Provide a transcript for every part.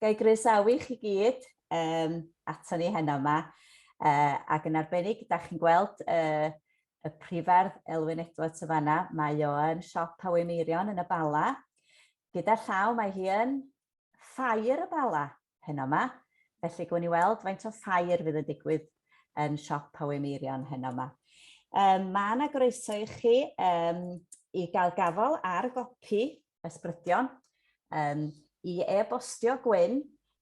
Gai groesawu chi gyd um, ato ni heno yma, uh, ac yn arbennig, da chi'n gweld uh, y prifardd Elwyn Edwards y fanna, mae o yn siop Hawy Meirion yn y Bala. Gyda llaw mae hi yn Ffair y Bala heno 'ma, felly gwn i weld faint o ffair fydd yn digwydd yn siop Powys Meirion heno 'ma. Yym mae 'na groeso i chi yym i gael gafal ar gopi ysbrydion yym i e-bostio Gwyn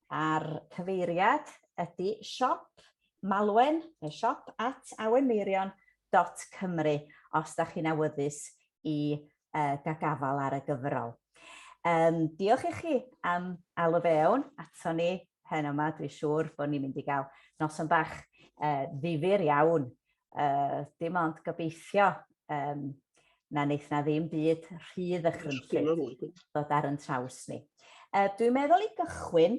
a'r cyfeiriad ydy siop malwen neu siop at awenmeirion dot cymru os da chi'n awyddus i uh, gagafal ar y gyfrol. Um, diolch i chi am alw fewn ato ni pen yma. Dwi'n siŵr bod ni'n mynd i gael noson bach uh, ddifur iawn. Uh, dim ond gobeithio um, na wneith na ddim byd rhydd a chrympyd dod ar yn traws ni. Uh, dwi'n meddwl i gychwyn,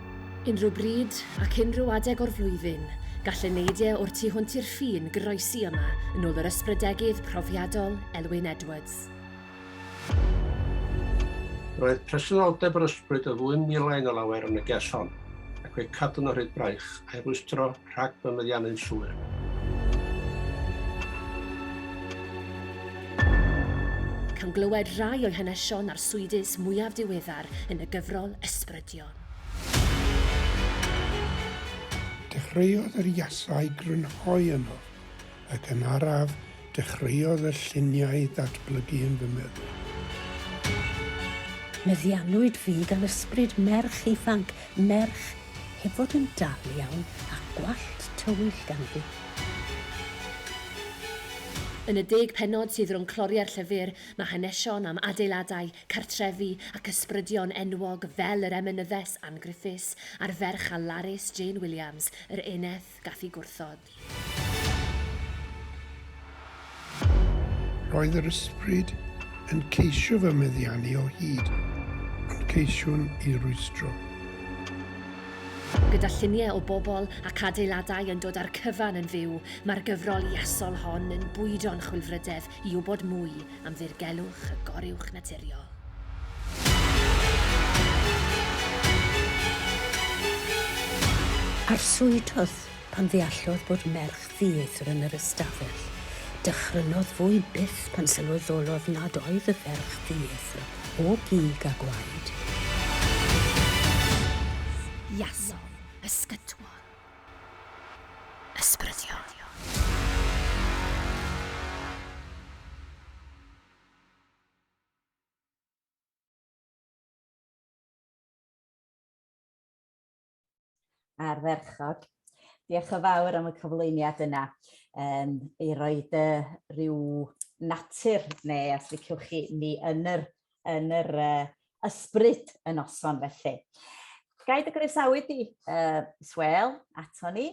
Unrhyw bryd, ac unrhyw adeg o'r flwyddyn, gall y neidiau o'r tu hwnt i'r ffin groesi yma yn ôl yr ysbrydegydd profiadol Elwyn Edwards. Roedd presenoldeb yr ysbryd o ddwyn milau yn y lawer yn y ges hon, ac fe'i cadwn o hyd braich, a'i rwystro rhag fy meddiannu'n llwyr. Cawn glywed rhai o'i hanesion arswydus mwyaf diweddar yn y gyfrol Ysbrydio. Dechreuodd yr iasau grynhoi yno, ac yn araf dechreuodd y lluniau ddatblygu yn fy meddwl. Meddiannwyd fi gan ysbryd merch ifanc, merch heb fod yn dal iawn, a gwallt tywyll ganddi. Yn y deg pennod sydd rhwng cloriau'r llyfr, mae hanesion am adeiladau, cartrefi ac ysbrydion enwog fel yr emynyddes Ann Griffiths a'r ferch a larus Jane Williams, yr eneth gath i gwrthod. Roedd yr ysbryd yn ceisio fy meddiannu o hyd, ond ceisiwn i rwystro. Gyda lluniau o bobl ac adeiladau yn dod â'r cyfan yn fyw, mae'r gyfrol iasol hon yn bwydo'n chwilfrydedd i wybod mwy am ddirgelwch y goruwch naturiol. Arswydodd pan ddeallodd bod merch ddieithr yn yr ystafell. Dychrynodd fwy byth pan sylweddolodd nad oedd y ferch ddieithr o gig a gwaed. Iasodd, ysgytwodd. Ysbrydion. Ardderchog. Diolch yn fawr am y cyflwyniad yna um, i roi dy rhyw natur neu os liciwch chi ni yn yr yn yr uh, ysbryd y noson felly. Gai dy groesawu di, uh, Swel, ato ni,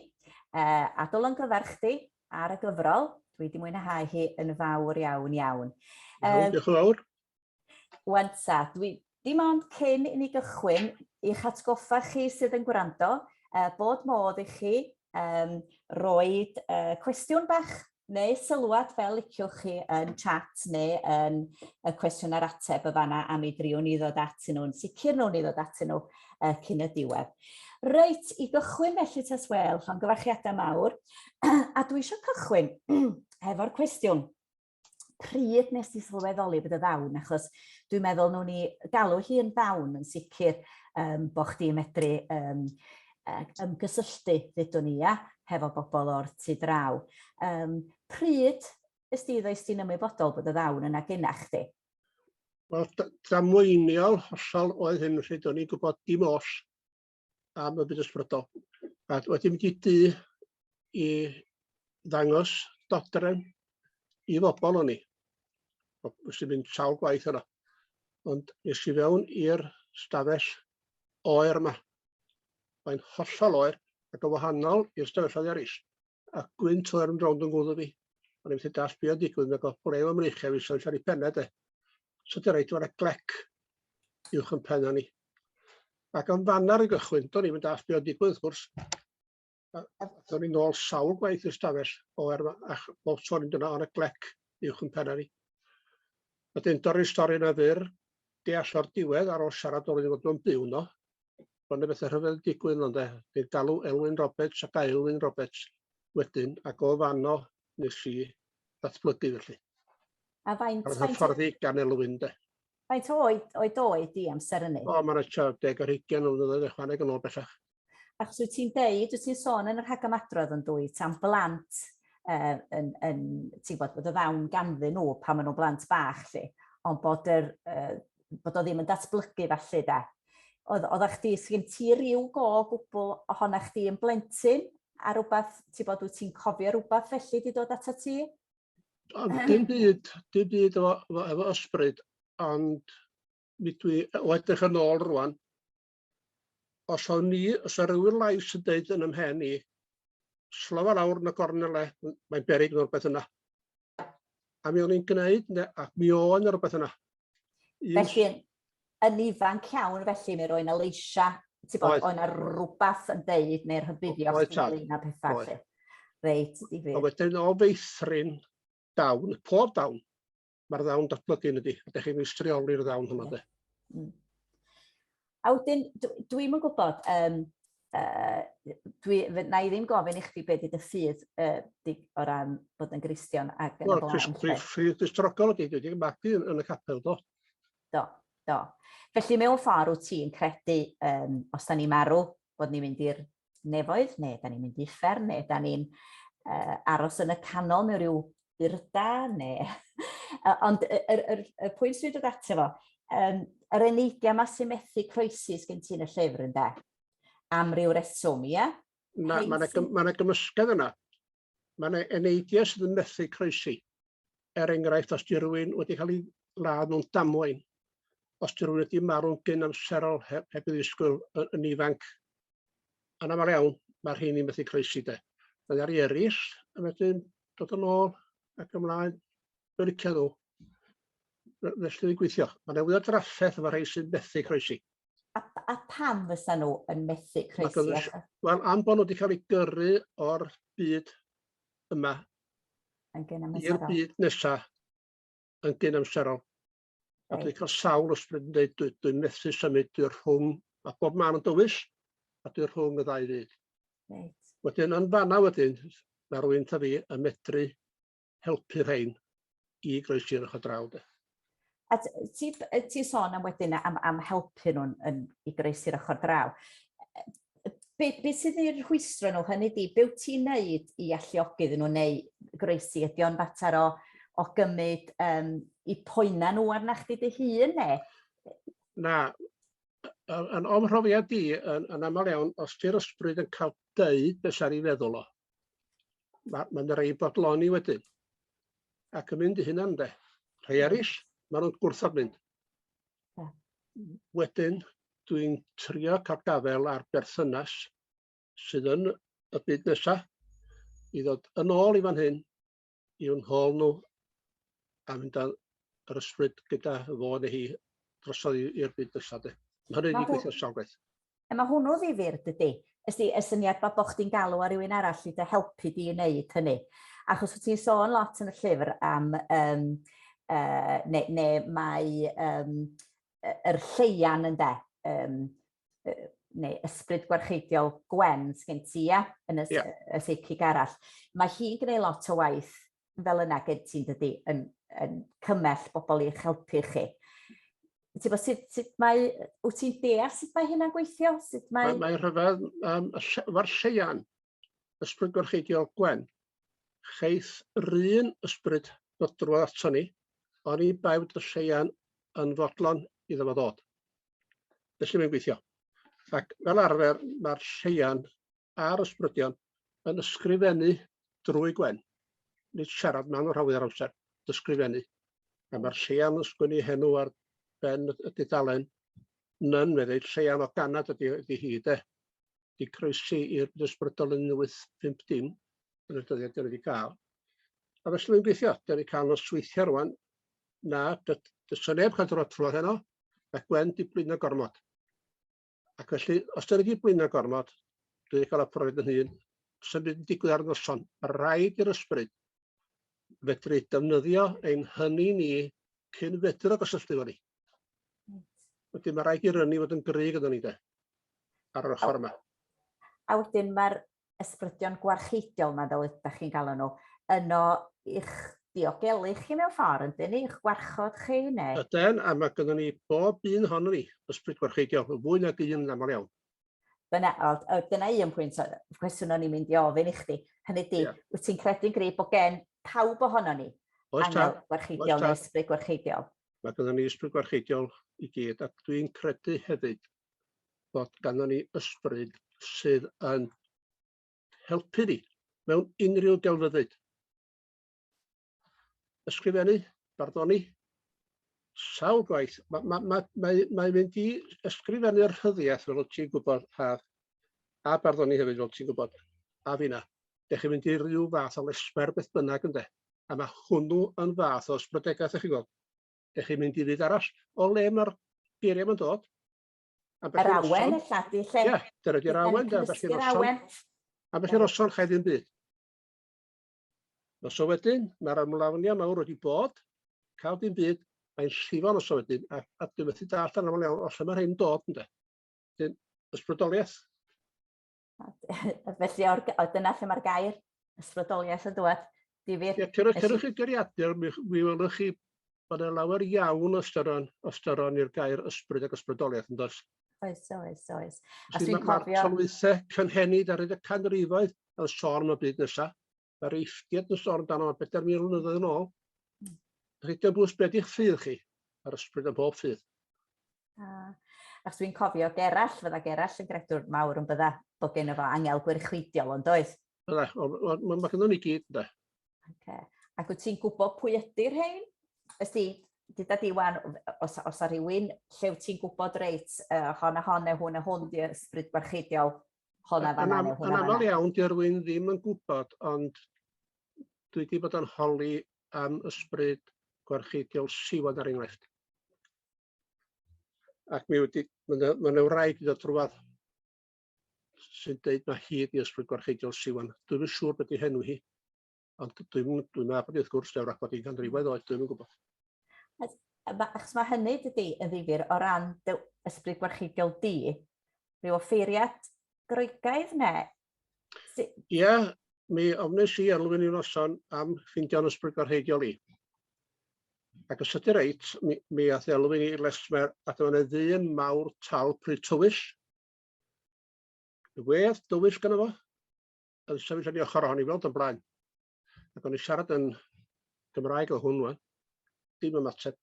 uh, a dylwn gyfer chdi ar y gyfrol. Dwi wedi mwynhau hi yn fawr iawn iawn. Iawn, diolch yn fawr. Wanta, dwi dim ond cyn i ni gychwyn i'ch atgoffa chi sydd yn gwrando, uh, bod modd i chi um, roed uh, cwestiwn bach neu sylwad fel liciwch chi yn chat neu yn y cwestiwn ar ateb y fanna a mi driwn ni ddod atyn nhw'n sicr nhw'n ni ddod atyn nhw uh, cyn y diwedd. Reit, i gychwyn felly tas wel, llon gyfarchiadau mawr, a dwi eisiau cychwyn hefo'r cwestiwn pryd nes di sylweddoli bod y ddawn, achos dwi'n meddwl nhw'n ni galw hi'n ddawn yn sicr um, bod chdi'n medru um, ac ymgysylltu, ddudwn ni, ia, hefo bobl o'r tu draw. Um, pryd ys di ddoes ti'n ymwybodol bod y ddawn yna gyna chdi? Wel, damweiniol hollol oedd hyn, felly do'n i'n gwybod dim os am y byd ysbrydol. A wedi mynd i du i ddangos dodrefn i fobl o'n i. Nes i'n mynd sawl gwaith yna. Ond nes i fewn i'r stafell oer yma. Mae'n hollol oer ac yn wahanol i'r stafelloedd eraill. A gwynt oer yn rownd yn gwddw fi. O'n i'n methu dallt be' o'n digwydd, nag o'dd gwrew am reichia fi sefyll ar ei penne de. So di reit, dyma glec uwch yn pen ni. Ac yn fanna'r i gychwyn, do'n i'm yn dallt be' o'n digwydd wrth gwrs. A a a ni'n ôl sawl gwaith i'r stafell o er ma' ach- bob tro ni'n dod ar y glec uwch 'yn penne ni. Wedyn dorri'r stori 'na fyr, deall o'r diwedd ar ôl siarad o'dd wedi bod yn byw 'no, bo' 'ne bethe rhyfedd yn digwydd yno ynde, dwi'n galw Elwyn Roberts ac Aelwyn Roberts wedyn ac o fanno nes i ddatblygu felly. A faint A'r faint hyfforddi gan Elwyn 'de. faint o oed oed oedd di amser ynny? O ma' 'na tua deg ar hugian o flynyddoedd ychwaneg yn ôl bellach. Achos wyt ti'n deud, wyt ti'n sôn yn y rhagymadrodd yn dwyt am blant uh, yn, yn, ti'n bod, bod y ddawn ganddyn nhw pan maen nhw'n blant bach, lle, ond bod, yr, uh, bod o ddim yn datblygu falle da. Oedd, oedd chdi, sgyn ti rhyw go gwbl ohona chdi yn blentyn a rhywbeth, ti'n bod, wyt ti'n cofio rhywbeth felly di dod ato ti? Dim byd, dim byd efo, efo ysbryd, ond mi dwi, o edrych yn ôl rwan, Os awn ni, os a rywun lais yn deud yn ymhen i, slofa lawr yn y gornel le, mae'n beryg mewn beth yna. A mi o'n i'n gwneud, ne, a mi o'n i'n rhywbeth yna. Un... Felly, yn ifanc iawn, felly, mi roi'n aleisha, ti'n bod, o'n ar rhywbeth yn deud, neu'r hybuddio'r Oedd, tad. ynglyn â pethau, Oedd. lle. Reit, A difyr. wedyn o feithrin dawn, pob dawn, mae'r ddawn datblygu yn ydi. Ydych chi'n meistrioli'r ddawn hwnna, de? Mm. A wedyn, dwi'n yn gwybod, um, uh, dwi, na i ddim gofyn i chdi beth ydy dy ffydd uh, di, o ran bod yn Gristion ac yn y blaen. Wel, ffydd distrogol ydy, dwi wedi magu yn, yn y capel, do. Do, do. Felly mewn ffordd wyt ti'n credu, um, os da ni marw, bod ni'n mynd i'r nefoedd, neu da ni'n mynd i fferm, neu da ni'n uh, aros yn y canol mewn rhyw byrda, neu... Ond y, y, y, y pwynt dwi'n dod ato fo, um, yr eneidia yma sy'n methu croesus gen ti'n y llyfr yn da, am ryw reswm, ia? Mae yna ma ma gymysgedd yna. Mae yna eneidia sydd yn methu croesi. Er enghraifft, os di rhywun wedi cael ei ladd mewn damwain, os di rhywun wedi marw'n gyn amserol heb, heb ei ddisgwyl yn ifanc, Yn aml iawn, ma'r rheini'n methu croesi de. Mae ar i eraill yn wedyn dod yn ôl ac ymlaen. Dwi'n licio nhw. Fe- Felly dwi'n gweithio. Mae yna fwy o drafferth efo rhai sy'n methu croesi. A, a pam fysa nhw yn methu Mae croesi? gynnydd- achos- Wel, am bod nhw wedi cael eu gyrru o'r byd yma Yn gyn i'r amserol. byd nesa yn gyn amserol. A dwi'n cael sawl ysbryd yn deud dwi dwi'n methu symud, dwi rhwng, a bob man yn dywys, a dwi rhwng y ddau fyd. Right. Wedyn yn fanna wedyn, mae rwy'n ta fi yn medru helpu rhain i groesi'r ochr draw. De. A ti, ti sôn am wedyn am, am helpu nhw'n i groesi'r ochr draw. be, be sydd i'r rhwystro nhw, hynny di, be wyt ti'n neud i alluogi iddyn nhw neu groesi? Ydy o'n fater o, o gymryd um, i poena nhw arna chdi dy hun ne? Na, yn o'm mhrofiad di, yn, yn aml iawn, os di'r ysbryd yn cael deud beth sy'n ei feddwl o, mae'n ma, ma rei bodloni wedyn. Ac yn mynd i hynna, de. Rhai eraill, maen nhw'n gwrthod mynd. Wedyn, dwi'n trio cael gafael ar berthynas sydd yn y byd nesa i ddod yn ôl i fan hyn i'w nhôl nhw a mynd â'r yr ysbryd gyda fo neu hi drosodd i'r byd nesa de. Mae hynny'n gweithio sawl gwaith. Yy ma' hwnnw ddifyr dydi? Ys di y syniad bo' bo' chdi'n galw ar rywun arall i dy helpu di i neud hynny. Achos wt ti'n sôn lot yn y llyfr am yym yy ne' ne' mae yym yy yr lleian ynde yym yy neu ysbryd gwarcheidiol Gwen sgin ti ia? Yn y s- y seici arall. Mae hi'n gneud lot o waith fel yna gen ti, dydy, yn, yn cymell bobl i'ch helpu chi. Ti'n bod, sut, sut mae, wyt ti'n deall sut mae hynna'n gweithio? Sut mae... Mae, mae rhyfedd, um, efo'r lleian, ysbryd gorcheidiol Gwen, cheith yr un ysbryd ddod drwodd ato ni, ond i bai bod y lleian yn fodlon i fo ddod. Felly mae'n gweithio. Ac fel arfer, mae'r lleian a'r ysbrydion yn ysgrifennu drwy Gwen. Nid siarad maen nhw'n rhawio'r amser, ysgrifennu. A mae'r Seian yn sgwynnu henw ar ben y dudalen. Nyn, fe ddeud Seian o ganad ydy, ydy hi, de. Di croesi i'r ysbrydol yn 1850 yn y dyddiad dyn wedi cael. A felly mae'n gweithio, dyn wedi cael nos weithio rwan, na, dysa neb cael drod trwy'r heno, a Gwen di blin y gormod. Ac felly, os dan ni wedi blino gormod, dwi wedi cael y profiad yn hun, sa'm byd yn digwydd ar y noson. Ma' raid i'r ysbryd fedru defnyddio ein hynny ni cyn fedru gysylltu efo ni. Wedyn ma' raid i'r ynni fod yn gry gyda ni de, ar yr ochr yma. A wedyn ma'r ysbrydion gwarcheidiol 'ma fel ydach chi'n galw nhw, yno i'ch diogelu chi mewn ffordd yndyn ni, i'ch gwarchod chi neu... Yden, a mae gynnon ni bob un ohono ni, ysbryd gwarcheidiol, yn fwy nag un yn aml iawn. Dyna, o, dyna un pwynt o cwestiwn o'n i'n mynd i ofyn i chdi. Hynny di, yeah. wyt ti'n credu'n grib bod gen pawb ohono ni Oes angel gwarcheidiol neu ysbryd gwarcheidiol? Mae gynnon ni ysbryd gwarcheidiol i gyd, a dwi'n credu hefyd bod ganddo ni ysbryd sydd yn helpu ni mewn unrhyw delfyddyd. Ysgrifennu, barddoni, sawl gwaith. Mae ma, ma, ma, ma mynd i ysgrifennu'r rhyddiaeth fel wyt ti'n gwybod, a, a barddoni hefyd fel ti'n gwybod, a finna. Dech chi'n mynd i rhyw fath o lesber beth bynnag ynde. A mae hwnnw yn fath o ysbrydegaeth, ych chi'n gweld. Dych chi'n mynd i fyd arall o le mae'r geiriau ma'n dod. Yr awen ella di lle. Ie, dyna di'r awen, dyna beth i'r awen. A beth i'r oson chai ddim byd. Os o wedyn, mae'r amlafnia mawr wedi bod, cael dim byd, mae'n llifo'n os o wedyn, a, a dwi'n methu dall yn aml iawn, o lle mae'r hyn dod, ynddo. Dyn, ysbrydoliaeth. Felly, o'r, o, dyna lle mae'r gair ysbrydoliaeth yn dod. Difyr. Ie, cyrwch, cyrwch i geriadur, mi, mi welwch chi bod yna lawer iawn o ystyron, ystyron i'r gair ysbryd ac ysbrydoliaeth yn dos. Oes, oes, oes. A dwi'n cofio... Mae'r tolwythau cynhenid ar y canrifoedd yn sôn am y byd nesaf. Yr eithriad yn sôn amdano bedair mil mlynyddoedd yn ôl. Rhydyn bws beth i'ch ffydd chi, a'r ysbryd am bob ffydd. Ah. Ac dwi'n cofio Gerall, fydda Gerall yn gredwr mawr yn bydda, bod gen efo angel gwirchweidiol ond doedd? Bydda, mae ma gyda ni gyd, da. Okay. Ac wyt ti'n gwybod pwy ydy'r rhain? Ys di, dyda di wan, os, os ar rhywun lle wyt ti'n gwybod reit, uh, hon a hon neu hwn a hwn di ysbryd barcheidiol, hwn a fan hwn Yn aml iawn, di rwy'n ddim yn gwybod, ond dwi wedi bod yn holi am ysbryd gwarcheidiol siwan ar enghraifft. Ac mi wedi, mae'n yw rhaid i ddod rhywbeth sy'n dweud mae hyd i ysbryd gwarcheidiol siwan. Dwi'n siŵr beth i henw hi. Ond dwi'n dwi'n meddwl bod wrth gwrs dewr ac bod i'n ganrifoedd oed, dwi'n yn gwybod. Achos mae hynny dydy yn ddifur o ran dy ysbryd gwarchidiol di, rhyw offeiriad groegaidd ne? Ie, yeah, mi ofnes i elwyn i noson am ffindio'n ysbryd gwarchidiol i. Ac os ydy reit, mi, mi ath elwyn i lesmer a dyma yna ddyn mawr tal pryd tywyll. Wedd dywyll gyda fo. yn sefyll yn ei ochr o, o'n i weld o'n blaen. Ac o'n i siarad yn Gymraeg o hwn wan, dim ymateb.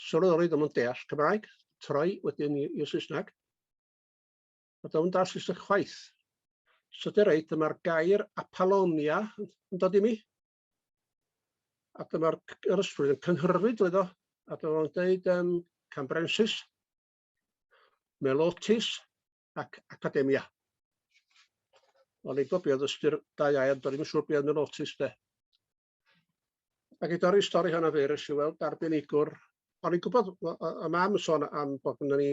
Sylweddoli ddim yn deall Cymraeg, troi wedyn i'r Saesneg. A ddim yn deall Saesneg chwaith. So dy reit, dyma'r gair Apollonia yn dod i mi. A dyma'r yr ysbryd yn cynhyrfu drwy ddo. A dyma'n dweud um, Cambrensis, Melotis, ac academia. O'n i'n gobio oedd ystyr da iau, ond o'n i'n siŵr beth oedd yn notis de. Ac i dorri'r stori hynna fe, rys i weld arbenigwr. O'n i'n gwybod, y mam yn sôn am bod yna ni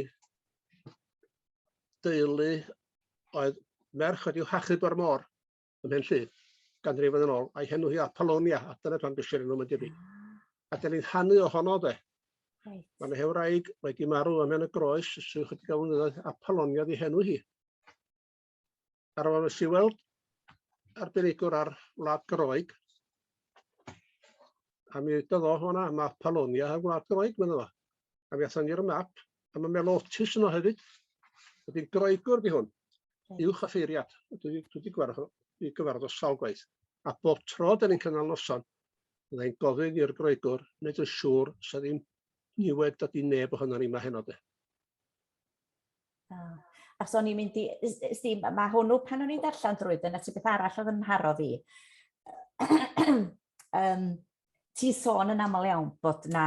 deulu oedd merch wedi'w hachub o'r môr. ym Mhenllu, ganrifoedd yn ôl, a'i henw hi Apollonia, Adel y Pan Bysir yn ymwneud i A dyn ni'n hannu ohono de. Right. Mae yna hewraig wedi marw yn y groes sy'n chydig o flynyddoedd Apollonia di henw hi. Ar ôl nes i weld arbenigwr ar Wlad Groeg, a mi ydodd o hwnna, mae Apollonia ar Wlad Groeg, mae'n efo. A mi athon ni ar y map, a ma' melotus yno hefyd. Wedyn Groegwr di hwn. Uwch a ffeiriad. Dwi di, dwi di gwarfod o, i gyfarfod o sawl gwaith. A bob tro da ni'n cynnal noson, byddai'n gofyn i'r Groegwr wneud yn siŵr sa ddim niwed da di neb ohono ni yma heno de. Ah. A so ni'n mynd i, ysdi, mae hwnnw pan o'n i'n darllen drwy, dyna ti beth arall oedd yn mharo fi. um, ti sôn yn aml iawn bod na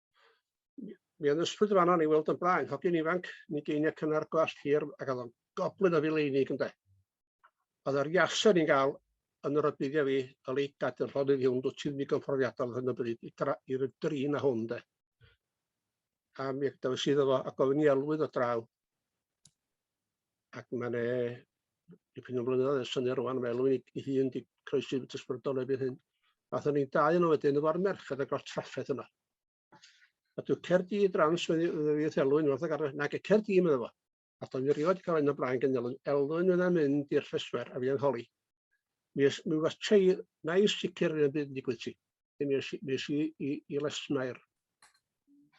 Mi oedd ysbryd yn fan'na o'n i weld o'n blaen, hogyn ifanc, yn ugeiniau cynnar, gwallt hir, ac oedd o'n goblyn o fileinig ynde. Oedd yr iasau ni'n gael yn yr odbyddiau fi, y leit gadw llonydd i hwn, dwi ti'n ddigon profiadol hyn o bryd i dra- i'r drin a hwn de. A mi dewis iddo fo a gofyn i elwydd o draw. ac mae 'ne dipyn o flynyddoedd yn syni rŵan fel rwy'n i- i hun 'di croesi fy tysgwydol erbyn hyn. Aethon ni'n dau yno wedyn efo'r merched a gorff trafferth yno. A dyw Caerdydd Drans wedi wedi elwyn wrth y garfan nag y Caerdydd medda fo. A do'n i erioed 'di ca'l un o blaen gan elwyn elwyn fydda mynd i'r llesfer a fi yn holi. Mi ys- mi was tei- nai sicr yn y byd yn digwydd ti. Mi nes i, mi es i i, i Lesmair.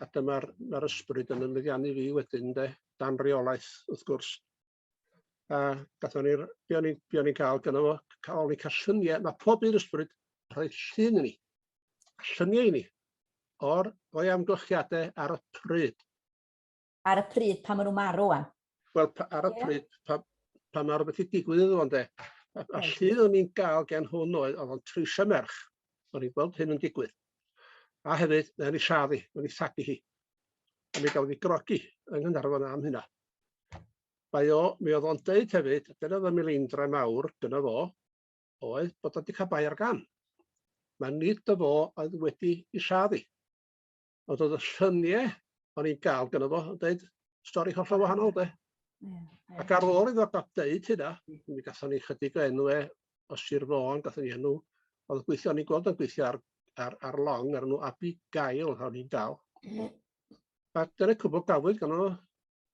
A dyma'r mae'r ysbryd yn ymeddiannu fi wedyn, de, dan reolaeth, wrth gwrs. A gatho ni'r, be o'n i'n be o'n i'n cael gyda fo, cael ni cael lluniau, mae pob un ysbryd yn rhoi llun i ni, lluniau i ni, o'r o'i amgylchiadau ar y pryd. Ar y pryd pan maen nhw'n marw wan? Wel, ar y pryd pan, pan mae rhywbeth wedi digwydd iddo fo, de. A, a lle o'n i'n gael gen hwn oedd, oedd o'n treisio merch. O'n i'n gweld hyn yn digwydd. A hefyd, mae'n ei lladd hi, mae'n ei thagu hi. A mi gafodd ei grogi yng Nghanarfon am hynna. Mae o, mi oedd o'n deud hefyd, dyna oedd y mileindra mawr gyda fo, oedd bod o'n wedi cael bai ar gam. Mae nid dy fo oedd wedi ei lladd hi. Ond oedd y llynie o'n i'n gael gyda fo yn dweud stori hollol wahanol de. Ac ar ôl iddo gael dweud hynna, mi gatho ni chydig o enw e o Sir Fôn, gatho ni enw, oedd yn gweithio, o'n i'n gweld o'n gweithio ar, ar, ar long, ar enw Abi Gael, o'n i'n dal. A dyna cwbl gafwyd gan nhw,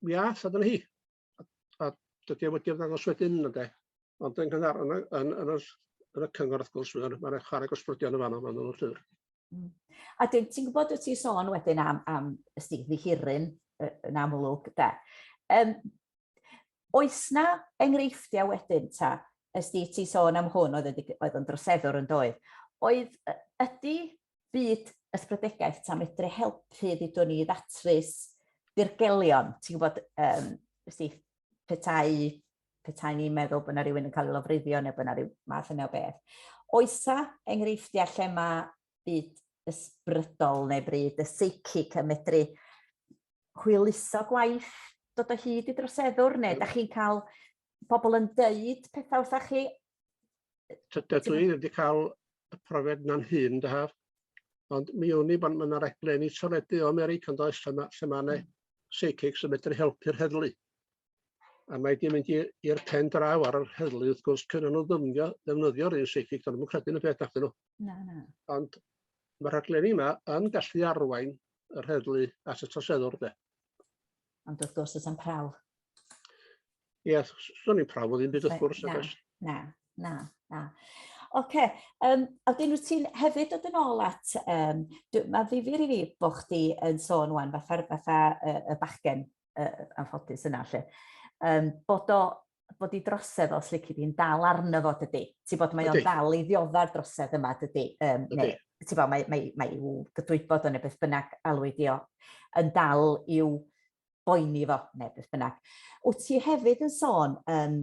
mi ath, a dyna hi. a dydi o wedi ymddangos wedyn ynde? Ond yn gynnar yn y yn yn yr yn y cyngor wrth gwrs mae'n mae'n chwarae gosbrydion yn fanno fan nhw'n llyfr. Hmm. A dyn, ti'n gwybod wyt ti'n sôn wedyn am, am ysdi ddihiryn yn amlwg, da. Um, oes na enghreifftiau wedyn ta, ysdi ti'n sôn am hwn oedd, oedd yn droseddwr yn doedd, oedd ydy byd ysbrydegaeth ta medru helpu ddudwn ni ddatrys dirgelion, ti'n gwybod, um, ysti, petai, petai ni'n meddwl bod yna rhywun yn cael ei lofruddio neu bod yna rhyw math yna o beth. Oesa enghreifftiau lle mae byd ysbrydol neu bryd y seicyc yn medru hwyluso gwaith dod o hyd i droseddwr neu da chi'n cael pobl yn deud pethau wrtha chi? Dydw i wedi cael y profiad na'n hun, dahaf. Ond mi wn i bod yna raglen i toledu o America yn does, lle mae, lle mae yna psychics yn medru helpu'r heddlu. A mae wedi mynd i'r pen draw ar yr heddlu, wrth gwrs, cyn nhw ddymnio, ddefnyddio'r un psychic, dyn nhw'n credu yn y peth nath nhw. Na, na. Ond mae'r rhaglen yma yn gallu arwain yr heddlu at y troseddwr, de. Ond wrth gwrs, does am prawf. Ie, yeah, does am prawf o ddim byd wrth gwrs. Na, na, na, na. Oce, okay. um, a dyn nhw ti'n hefyd dod yn ôl at, um, mae ddifur i fi bod chdi yn sôn wan, fatha'r fatha uh, y bachgen uh, anffodus yna, lle, um, bod o bod i drosedd os lici di'n dal arno fo dydy. Ti'n bod mae o'n dal i ddiodda'r drosedd yma dydy. Um, okay. neu, ti'n bod mae, mae, mae i'w gydwybod o'n neu beth bynnag alwyd di o yn dal i'w boeni fo neu beth bynnag. Wyt ti hefyd yn sôn, um,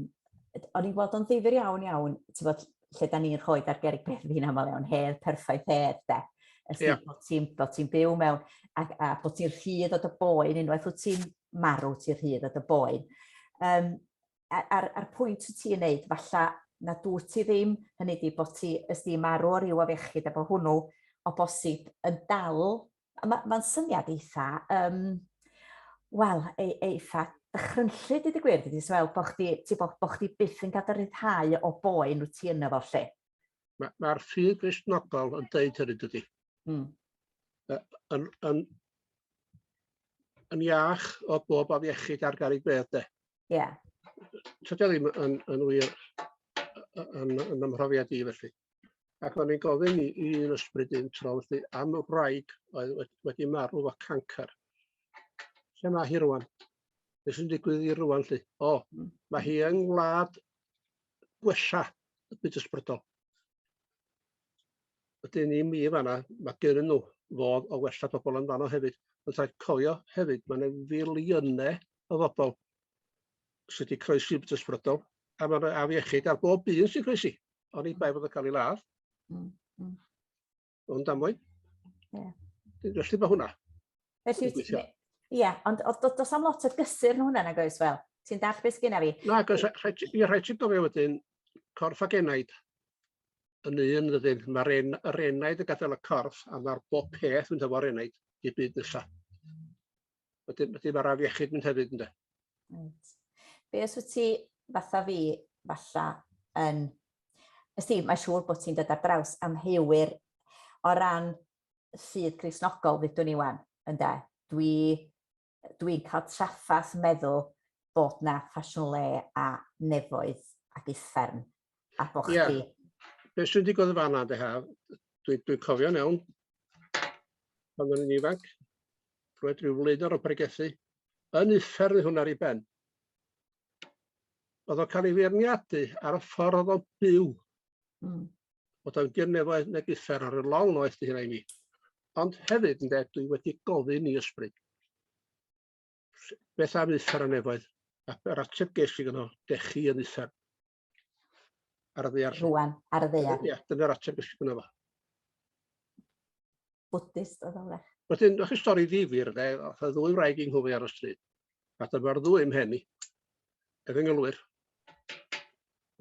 o'n i'n gweld o'n ddifur iawn iawn, ti'n bod lle da ni'n rhoi ar gerig beth fi'n aml iawn, hedd, perffaith hedd, de. Ys yeah. bod ti'n byw mewn, a, a bod ti'n rhydd o dy boen unwaith wyt ti'n marw ti rhydd o dy boen. Um, a'r, ar pwynt wyt ti'n neud, falla na dwi ti ddim, hynny di bod ti ys di marw o ryw afiechyd efo hwnnw o bosib yn dal, mae'n ma syniad eitha, um, wel, e, eitha dychrynllu, dydy gwir, dydy, so fel bod chdi, ti bod, bod chdi byth yn gadael rhyddhau o boen wyt ti yna fo lle. Mae'r ma ffydd grisnogol yn deud hynny, dydy. Mm. Yn, yn, yn iach o bob afiechyd ar garreg fedd de. Ie. Yeah. Tydio ddim yn, yn wir yn, yn ymhrofiad i felly. Ac o'n i'n gofyn i, i un ysbryd un tro felly am y wraig oedd wedi, wedi marw o cancer. Lle mae hi rwan? Beth sy'n digwydd i rwan lli? O, hmm. mae hi yng ngwlad gwella y byd ysbrydol. Wedyn i mi yn fan'na, ma' gennyn nw fodd o wella pobol yn fan'no hefyd. Ond rhaid cofio hefyd, ma' 'ne filiyne o fobol sy 'di croesi yn brydol, a ma' 'ne afiechyd ar bob un sy'n croesi, oni bai bod o'n ca'l 'i ladd. Hmm, hmm. O'n damwain. Ie. Felly mae hwnna. Felly, ie, yeah, ond does am lot o gysur yn hwnna nag oes fel? Ti'n dall beth sgynna fi? Na, gos, i rhaid ti'n gofio wedyn, corff ac enaid yn un ydyn. Mae'r en, er enaid yn gadael y corff a mae'r bob peth yn dyfo'r enaid i byd nesaf. Wedyn, wedyn mae'r afiechyd mynd hefyd, ynddo. Right. Be os wyt ti, fatha fi, falla, yn... Ys ti, mae siŵr bod ti'n dod ar draws am heuwyr o ran sydd Crisnogol, ddydwn i wan, ynddo. Dwi, dwi'n cael traffath meddwl bod na ffasiwn le a nefoedd ac uffern a bod yeah. chdi... Be sy'n digwydd y fan yna, dwi, dwi'n cofio'n iawn, pan o'n i'n ifanc, roedd rhyw flaenor o bregethu yn uffern i hwn ar ei ben. Oedd o'n cael ei feirniadu ar y ffordd oedd o'n byw. Mm. Oedd o'n gyrnefoedd neb uffer ar y long noeth di hynna i mi. Ond hefyd, yn dweud, dwi wedi gofyn i ysbryd. Beth am uffer a nefoedd? A'r ateb ges i gyno, dech chi yn uffer. Ar y ddear. Rwan, ar y ddear. Ie, dyna'r ateb ysgwyd gwneud fo. Bwtist o ddawrach. Wedyn, o'ch stori ddifur, de, oedd y ddwy wraig yng Nghymru ar y stryd. A dyma'r ddwy ym mhen i. Ef yng ngylwyr.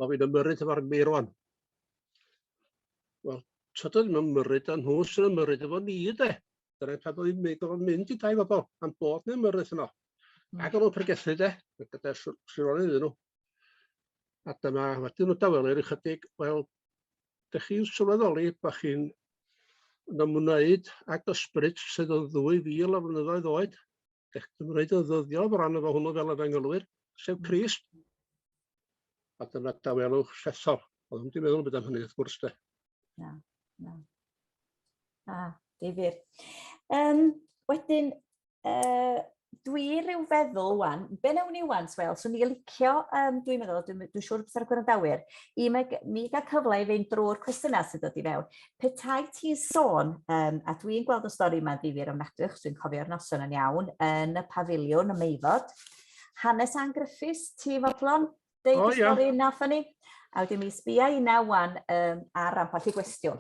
O fi'n ymyrryd efo'r meirwan. Wel, tyd oedd yn ymyrryd, a nhw sy'n ymyrryd efo ni, de. Dyna pan oedd yn gofod mynd i dau fobl, am bod nhw'n ymyrryd yno. Ac o'n nhw'n pregethu, de, gyda sironi iddyn nhw. A dyma, wedyn nhw dawelir ychydig, wel, dych chi'n sylweddoli bod chi'n yn ymwneud ag ysbryd sydd yn 2,000 o flynyddoedd oed, dych chi'n ymwneud yn ddyddiol o ran efo hwnnw fel y fengelwyr, sef Christ. A dyna dawelwch llethol. Oedd ddim wedi meddwl yn byd am hynny, wrth gwrs, de. Na, na. A, difyr. Um, wedyn, Uh, dwi rhyw feddwl wan, be newn ni wan, Swel, swn i'n licio, um, dwi'n meddwl, dwi'n dwi siŵr beth ar y gwrandawyr, i mi gael cyfle i fynd drwy'r cwestiynau sydd wedi fewn. Petai ti'n sôn, um, a dwi'n gweld y stori yma'n ddifur am nad ydych, dwi'n cofio'r noson yn iawn, yn y pafiliwn, y meifod, hanes Ann Griffiths, ti fodlon, deud oh, y stori yeah. nath ni, a wedyn mi sbia i na wan um, ar ramparth i gwestiwn.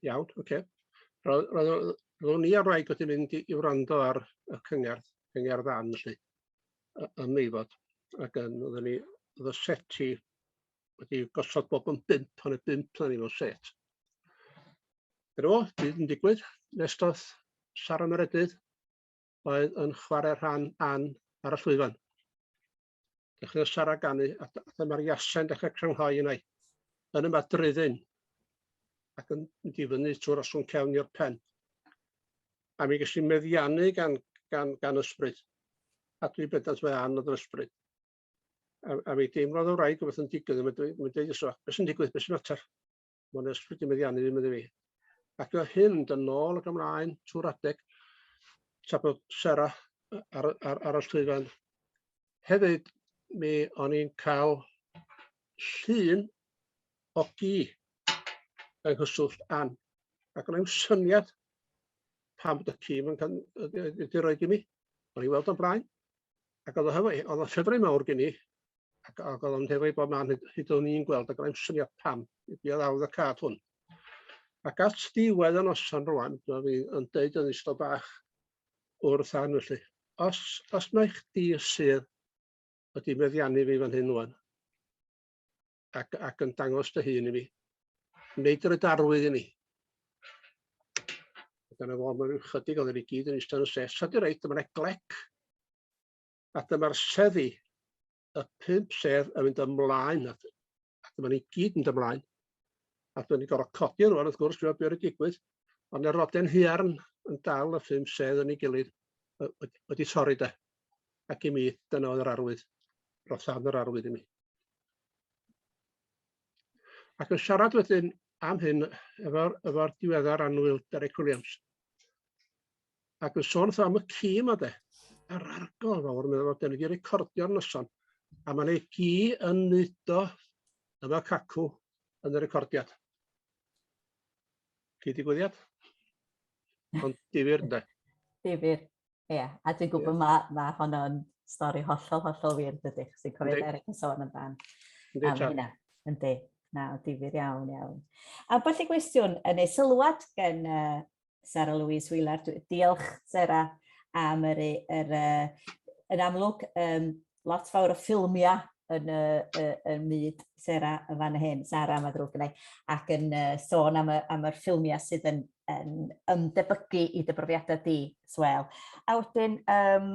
Iawn, ocê. Roedd- roedd- roedd- ro'n i a'r wraig wedi mynd i i wrando ar y cyngerdd, cyngerdd ddan felly, y- yn Meifod, ac yym oedden ni, oedd y seti wedi gosod bob yn bump, o' 'ne bump arnyn nw set. Dyna fo, byd yn digwydd. Nest o'th Sara Meredydd oedd yn chware rhan Ann ar y llwyfan. Dechreuodd Sara ganu a dy- a dyma'r Iasen dechre crynhoi yna 'i yn y madryddi'n ac yn mynd i fyny trw'r osgwrn cefn i'r pen. A mi ges i meddiannu gan gan gan ysbryd. A dwi bendant mae ann oedd yr ysbryd. A, a mi deimlodd y wraig rhywbeth yn digwydd, a mae'n dweud, mae'n dweud iso, beth sy'n digwydd, beth sy'n mater? Mae'n ysbryd i meddiannu ddim iddi fi. Ac o hyn, dyn nôl ac ymlaen, trwy'r adeg, tra bod Sera ar, ar, ar y llwyfan. Hefyd, mi o'n i'n cael llun o gi yng nghyswllt Ann. Ac o'n i'n syniad pam bod y ci yn cael wedi rhoi i mi. O'n i'n weld o'n blaen. Ac oedd o'n ffefrau mawr gen i, Ac ac o'dd o'n hwyr ei bod man hyd hyd o'n i'n gweld ag rai'n syniad pam ydi o ddaw y cad hwn. Ac at ddiwedd y noson rŵan, dyma fi yn deud yn ystod bach o'r tân felly. Os os mae chdi sydd wedi meddiannu fi fan hyn ŵan, ac ac yn dangos dy hun i mi, wneud yr ydarwydd i ni. Dyna fo, mae rhyw chydig oedd yn i gyd yn eistedd yn y set. Sa di reit, dyma'n eglec. A dyma'r seddi, y pump sedd yn mynd ymlaen, a dyma ni gyd yn ymlaen. A dyma ni gorfod codi rwan, wrth gwrs, dwi'n wedi digwydd, ond y roden huarn yn dal y pump sedd yn ei gilydd wedi torri de. Ac i mi, dyna oedd yr arwydd. Roedd llawn yr arwydd i mi. Ac yn siarad wedyn am hyn efo'r efo diweddar anwyl Derek Williams. Ac yn sôn wrtho am y ci yma de, yr arglawdd fawr, meddwl fod wedi recordio'r noson, a mae'n ei gi yn neud o yn y cacw yn y recordiad. Chi digwyddiad? Ond difyr, ynddo? Difyr, ie. Yeah. A dwi'n gwybod yeah. mae ma honno'n stori hollol, hollol wir, dydy, chos dwi'n cofio Eric yn sôn amdan. Ynddi, ta. Ynddi, Ynddi, na, difyr iawn, iawn. A falle gwestiwn, yn ei sylwad gen uh, Sarah Louise Wheeler. Diolch, Sarah, am yr, yr, yn amlwg, um, lot fawr o ffilmiau yn y, y, y myd Sarah yn fan hyn, Sarah mae ddrwg gynnau, ac yn uh, sôn am, y, am yr ffilmiau sydd yn, yn ymdebygu i dy brofiadau di, Swel. A wedyn, um,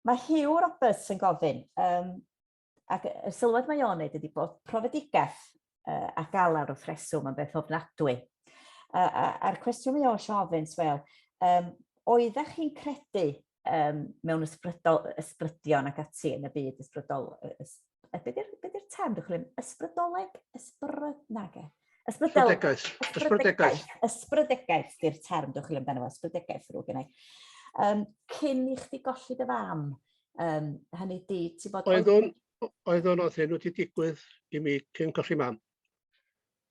mae Hugh Roberts yn gofyn, um, ac y sylwad mae o'n neud ydy bod profedigaeth uh, a galar wrth reswm yn beth ofnadwy. A'r a, a cwestiwn mae o'n siofyn, Swel, um, oeddech chi'n credu um, mewn ysbrydol, ysbrydion ac ati yn y byd ysbrydol, ys, be di'r term dwi'n chwilio? Ysbrydoleg? Ysbryd? Nage. Ysbrydegaeth. Ysbrydegaeth. Ysbrydegaeth di'r term dwi'n chwilio amdano fo, ysbrydegaeth rwy'n gennau. Um, cyn i chdi golli dy fam, Um, hynny di, ti bod... Oeddwn, oeddwn oedd hyn wedi digwydd i mi cyn colli mam.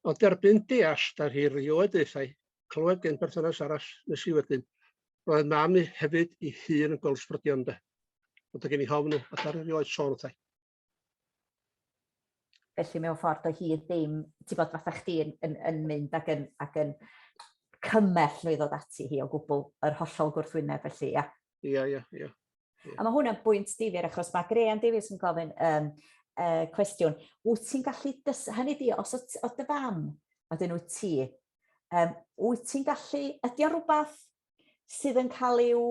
Ond derbyn deall da hi rioed eithau, clywed gen berthynas arall nes i wedyn. Roedd mam i hefyd i hun yn golsbrydion da. Ond y gen i hofn at ar erioed sôn wrthau. Felly mewn ffordd o hyd ddim, ti'n bod, fatha chdi yn, yn, yn mynd ac yn, ac yn cymell nhw i ddod ati hi o gwbl yr hollol gwrthwyneb felly, ia? Ia, ia, ia. A mae hwnna'n bwynt difyr achos mae Graham Davies yn gofyn um, uh, cwestiwn, wyt ti'n gallu, dys... hynny di, os o, o dy fam, a dyn wyt ti, um, wyt ti'n gallu, ydy o rhywbeth sydd yn cael i'w,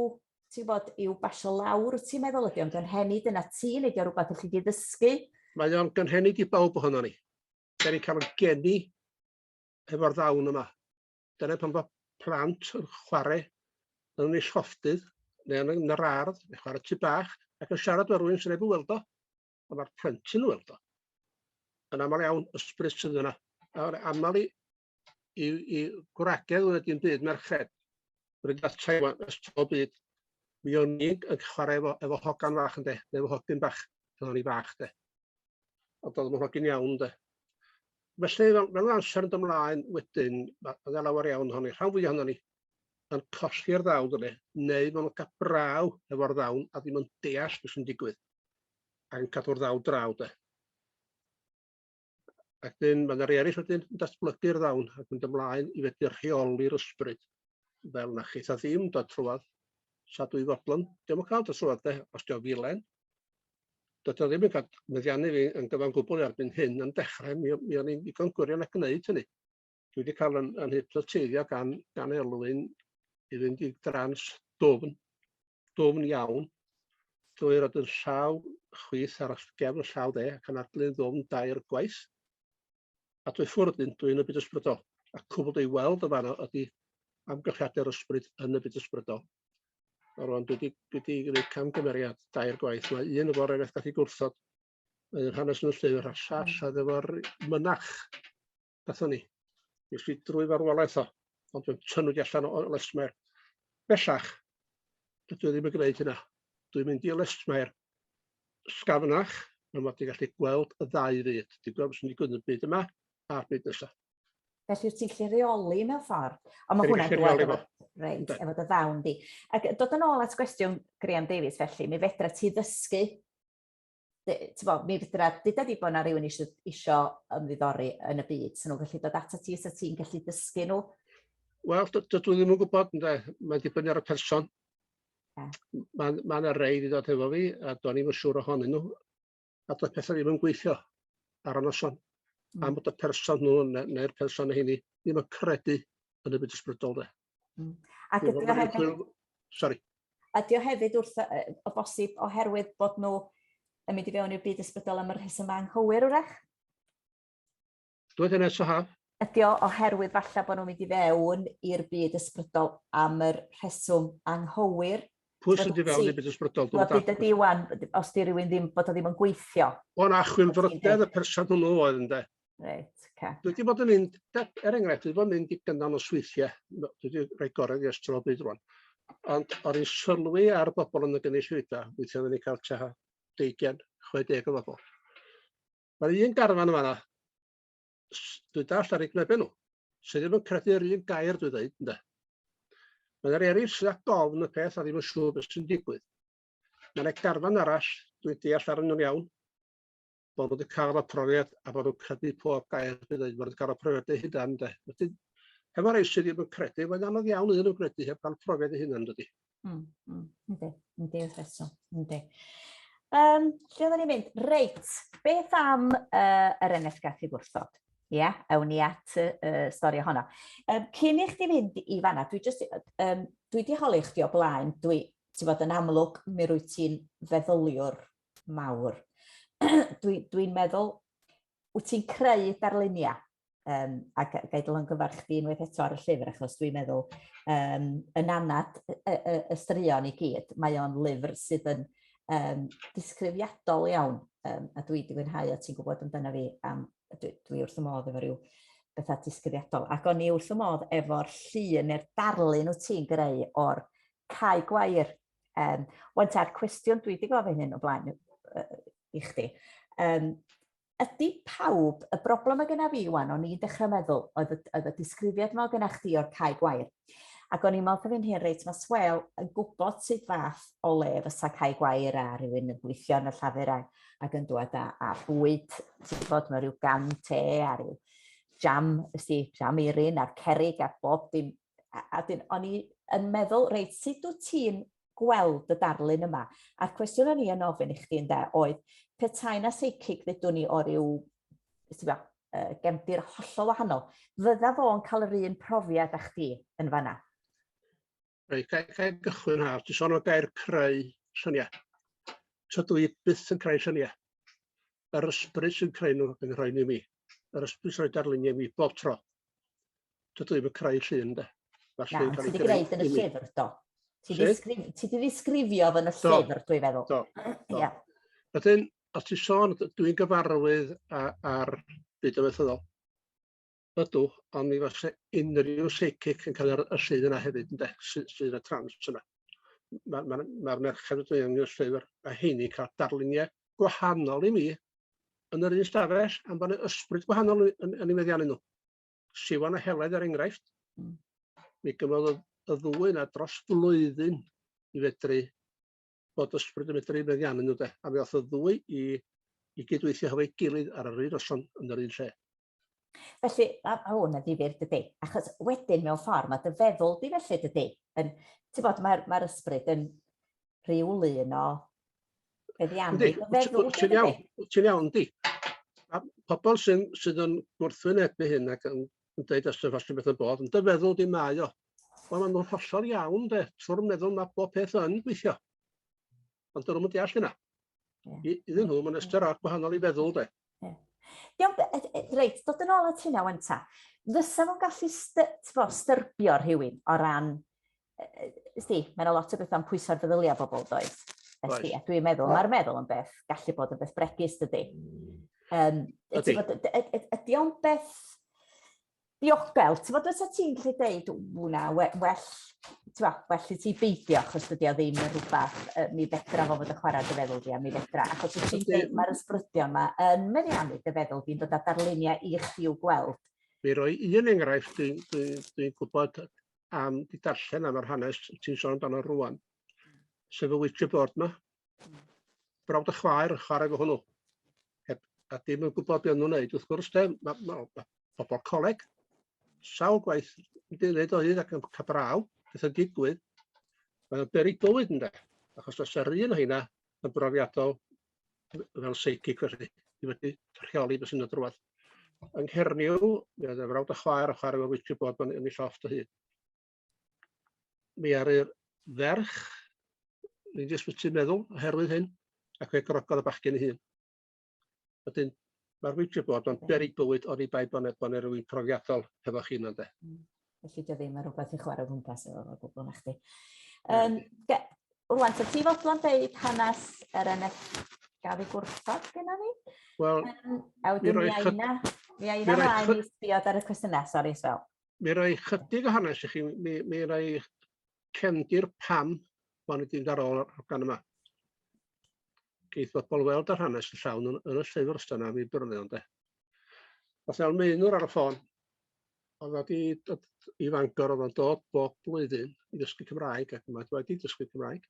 ti'n bod, i'w basio lawr, wyt ti'n meddwl ydy o'n gynhenid yna ti, neu ydy o rhywbeth ydych chi wedi ddysgu? Mae o'n gynhenid i bawb ohono ni. Da ni'n cael yn geni efo'r ddawn yma. Dyna pan fo plant yn chwarae yn ei llofftydd, neu yn yr ardd, neu chwarae tu bach, ac yn siarad o'r rwy'n sy'n ei weld o, ond mae'r plentyn yn weld o. Yn aml iawn, ysbryd sydd yna. A'r aml i i, i gwragedd wedi dim byd merched. Rwy'n gael Taiwan ys tro byd. Mi o'n i'n yn chwarae efo, efo hogan fach yn de, neu efo hogyn bach, pan o'n i fach de. Ond oedd yn hogyn iawn de. Felly, fel, fel amser yn dymlaen wedyn, mae yna lawer iawn ohoni, rhan fwy ohoni, yn cosi'r ddawn dyna, neu maen nhw'n cael braw efo'r ddawn a ddim yn deall beth sy'n digwydd, ac yn cadw'r ddawn draw de. Ac dyn, mae yna rei eraill wedyn yn datblygu'r ddawn ac mynd ymlaen i fedru rheoli'r ysbryd. Fel na chitha ddim dod trwad, sa dwy fodlon, ddim yn cael dod trwad de, os diolch filen. Doedd o ddim yn cael meddiannu fi yn gyfan gwbl erbyn hyn yn dechrau, mi, mi o'n i'n ddigon gwirion a gwneud hynny. dwi wedi cael yn, yn hypnoteiddio gan, gan Elwyn i fynd i drans dwfn, dwfn iawn, drwy roi yn llaw chwith ar gefn llaw dde ac yn adlu'n ddwfn dair gwaith. A dwi ffwrdd yn dwi'n y byd ysbrydol. A cwbl dwi'n weld y fanno ydy amgylchiadau'r ysbryd yn y byd ysbrydol. A rwan dwi wedi dwi wedi gwneud camgymeriad dair gwaith. Mae un o efo'r efeith gallu gwrthod yn hanes yn y llyfr a'r llall oedd efo'r mynach Nathon ni. Nes i drwy farwolaeth o, ond dwi'n tynnu di allan o lesmair. Bellach, dydw i ddim yn gwneud hynna. Dwi'n mynd i lesmair sgafnach, mae mod i'n gallu gweld y ddau fyd. Dwi'n gweld sy'n digwydd yn y byd yma a'r byd nesaf. Felly ti'n gallu reoli mewn ffordd. Ond mae hwnna'n dweud efo, reit, efo dy ddawn di. Ac dod yn ôl at gwestiwn Graham Davies felly, mi fedra ti ddysgu bo, mi fydra, dyda di bod na rhywun isio, isio ymddiddori yn y byd, sy'n nhw'n gallu dod ato ti, so ti'n gallu dysgu nhw? Wel, dydw i ddim yn gwybod, ynde. Mae'n dibynnu ar y person. Yeah. Mae ma yna rei wedi dod hefo fi, a do'n i'm yn siŵr ohonyn nhw. A doedd pethau ddim yn gweithio ar y noson. Mm. Am bod y person nhw neu'r person hynny ddim yn credu yn y byd ysbrydol, de. Mm. Ac ydy o hefyd... Sorry. Ydy o hefyd wrth o bosib oherwydd bod nhw yn mynd i fewn i'r byd ysbrydol am y rhesymau anghywir wrach? Dwi'n hynny, so ha? Ydy o oherwydd falle bod nhw'n mynd i fewn i'r byd ysbrydol am yr rheswm anghywir? Pwy sy'n di fewn i'r byd ysbrydol? Dwi'n dweud ydy wan, os di rhywun ddim, bod o ddim yn gweithio. O'n achwyn frodedd y person hwnnw oedd, ynddo? Reit, ca. Dwi wedi bod yn mynd, er enghraifft, dwi wedi bod yn mynd i gynnal o sweithiau, dwi wedi rhoi gorau i ystod o bryd rwan. Ond o'n i'n sylwi ar bobl yn y gynulleidfa, weithiau oedden ni'n cael tua 20, 60 o bobl. Mae'r un garfan yma, dwi dall ar ei gwnebau nhw, sydd ddim yn credu yr un gair dwi'n dweud, ynddo. Mae'n yr eraill sydd â gofn y peth a ddim yn siŵr beth sy'n digwydd. Mae'n y garfan arall, dwi'n deall ar yn iawn, bod nhw wedi cael y profiad a bod nhw'n credu pob gair dwi'n dweud, bod nhw wedi cael y profiad eu hunain ynde. Wedyn, efo rei sydd ddim yn credu, mae'n anodd iawn iddyn nhw gredu heb gael profiad eu hunain dydy. Mm, mm, yndi, yndi, wrth eto, yndi. Um, lle oedden ni'n mynd? Reit, beth am uh, yr NFGAC i gwrthod? Ie, yeah, awn ni at y uh, stori ohono. Um, cyn i chdi fynd i fanna, dwi, just, um, dwi di holi chdi o blaen, dwi, ti fod yn amlwg, mi rwy ti'n feddyliwr mawr. Dwi'n dwi meddwl, wyt ti'n creu darluniau, um, a ga, ga i dylangyfarch chdi unwaith eto ar y llyfr, achos dwi'n meddwl, um, yn anad y, y, y straeon i gyd, mae o'n lyfr sydd yn um, disgrifiadol iawn, um, a dwi wedi mwynhau o ti'n gwybod amdano fi, am, dwi, dwi wrth y modd efo rhyw bethau disgrifiadol. Ac o'n i wrth y modd efo'r llun neu'r darlun wyt ti'n greu o'r cae gwair Um, Waint a'r cwestiwn dwi wedi gofyn hyn o blaen uh, i chdi. Um, ydy pawb, y broblem y gyna fi wan, o'n i'n dechrau meddwl, oedd y, oedd y disgrifiad yma gyna chdi o'r cae gwair. Ac o'n i'n meddwl fi'n hyn reit, mae Swel yn gwybod sut fath o le fysa cae gwair a rhywun yn gweithio yn y llafur ac, ac yn dod â, a bwyd, ti'n bod, mae rhyw gan te a rhyw jam, ysdi, jam eirin a'r cerig a bob dim a, a dyn, o'n i yn meddwl, reit, sut wyt ti'n gweld y darlun yma? A'r cwestiwn o'n i yn ofyn i chdi ynde oedd, petai na seicig ddydwn ni o ryw, ti'n uh, gefndir hollol wahanol, fydda fo'n cael yr un profiad â chdi yn fanna? Reit, gael, gael gychwyn haf, ti'n sôn o gair creu syniau. Tydw i byth yn creu syniau. Yr ysbryd sy'n creu nhw yn rhoi ni mi. Yr ysbryd sy'n rhoi darluniau mi bob tro. Dydw i ddim yn creu llun, de. Mae'r llun cael ei greu. gwneud yn y llyfr, do. Ti wedi ddisgrifio fy yn y llyfr, dwi'n feddwl. Do, do. Yeah. Wedyn, os ti sôn, dwi'n gyfarwydd ar byd o fethyddol. Ydw, ond mi fase unrhyw seicic yn cael yr y llun yna hefyd, ynde, sydd sy y trans yna. Mae'r ma, ma, merched yn dweud yn y llyfr, a heini cael darluniau gwahanol i mi yn yr un stafell, am bod ysbryd gwahanol yn, yn, yn ei meddiannu nhw. Siwan a Heledd er enghraifft, hmm. mi gyfodd y, y ddwy yna dros flwyddyn i fedru bod ysbryd yn medru meddiannu nhw de, a mi oedd y ddwy i, i gydweithio hefo'i gilydd ar yr un noson yn yr un lle. Felly, a, a hwn yn ddifur dydy, achos wedyn mewn ffordd mae dy feddwl di felly dydy. Yn, ti'n bod, mae'r mae ysbryd yn rheoli yno Beth iawn. Yndi, ti'n iawn, ti'n iawn, di. Pobl sy'n sydd yn gwrthwynebu hyn ac yn dweud os ydych chi'n beth yn bod, yn dy feddwl di mae o. Wel, maen nhw'n hollol iawn, de. Trwy'r meddwl mae bob peth yn gweithio. Ond dyn nhw'n mynd deall yna. Iddyn nhw, mae'n ystyr ar gwahanol i feddwl, de. Iawn, reit, dod yn ôl at hynna wan ta. Fysa fo'n gallu styrbio rhywun o ran Ysdi, mae yna lot o bethau'n pwyso'r feddyliau bobl, does? Ysdi, a dwi'n meddwl, mae'r meddwl yn beth, gallu bod yn beth bregus, dydy. Um, ydy. Ydy o'n beth diogel, ti'n fod os ti'n lle deud, wna, well, well, well i ti beidio, achos dydy o ddim yn rhywbeth, uh, mi fedra fo fod y chwarae dy feddwl di, a mi fedra, achos os ti'n deud, mae'r ysbrydion yma yn meddiannu dy feddwl di'n dod â darluniau i chi i'w gweld. Mi roi un enghraifft, dwi'n dwi, dwi gwybod am 'di darllen am yr hanes ti'n sôn amdano rŵan, sef y witch board 'ma. Brawd a chwaer yn chwarae efo hwnnw. Heb, a dim yn gwybod beth nhw'n wneud. Wrth gwrs, de, mae ma, ma pobl coleg sawl gwaith yn dilyd o hyd ac yn cael braw, beth yn digwydd, mae'n beri bywyd ynde, achos os yr un o hynna yn brofiadol, fel seicig felly, i wedi rheoli beth sy'n y drwad. Yng Nghernyw, mi oedd y frawd a chwaer a chwarae efo witchy bod yn ei llofft o hyd. Mi ar y ferch, ni'n ddisbytu meddwl oherwydd hyn, ac fe grogodd y bachgen ei hun. Wedyn, Ma'r wici bod o'n beryg bywyd oni bai bo' 'ne bo' 'ne rywun profiadol hefo chi yno ynde? Hmm. Felly dio ddim yn rwbeth i chwarae o gwmpas efo fo gwbwl na chdi. Yym ge- rŵan so ti fodlon deud hanes yr eneth gafi gwrthod gyda ni? Wel, um, a wedyn mi ai na, mi ai na rai ni sbiod ar y cwestiynau, sori Sbel. Mi rai chydig o hanes i chi, mi, mi rai cefndir pam bod ni wedi mynd ar ôl gan yma. geith bobl weld yr hanes yn llawn yn, yn y llyfr os dyna fi byrnu ond e. Os ewn meunwr ar y ffôn, oedd wedi dod i Fangor, oedd o'n dod bob blwyddyn i ddysgu Cymraeg, ac mae wedi dysgu Cymraeg.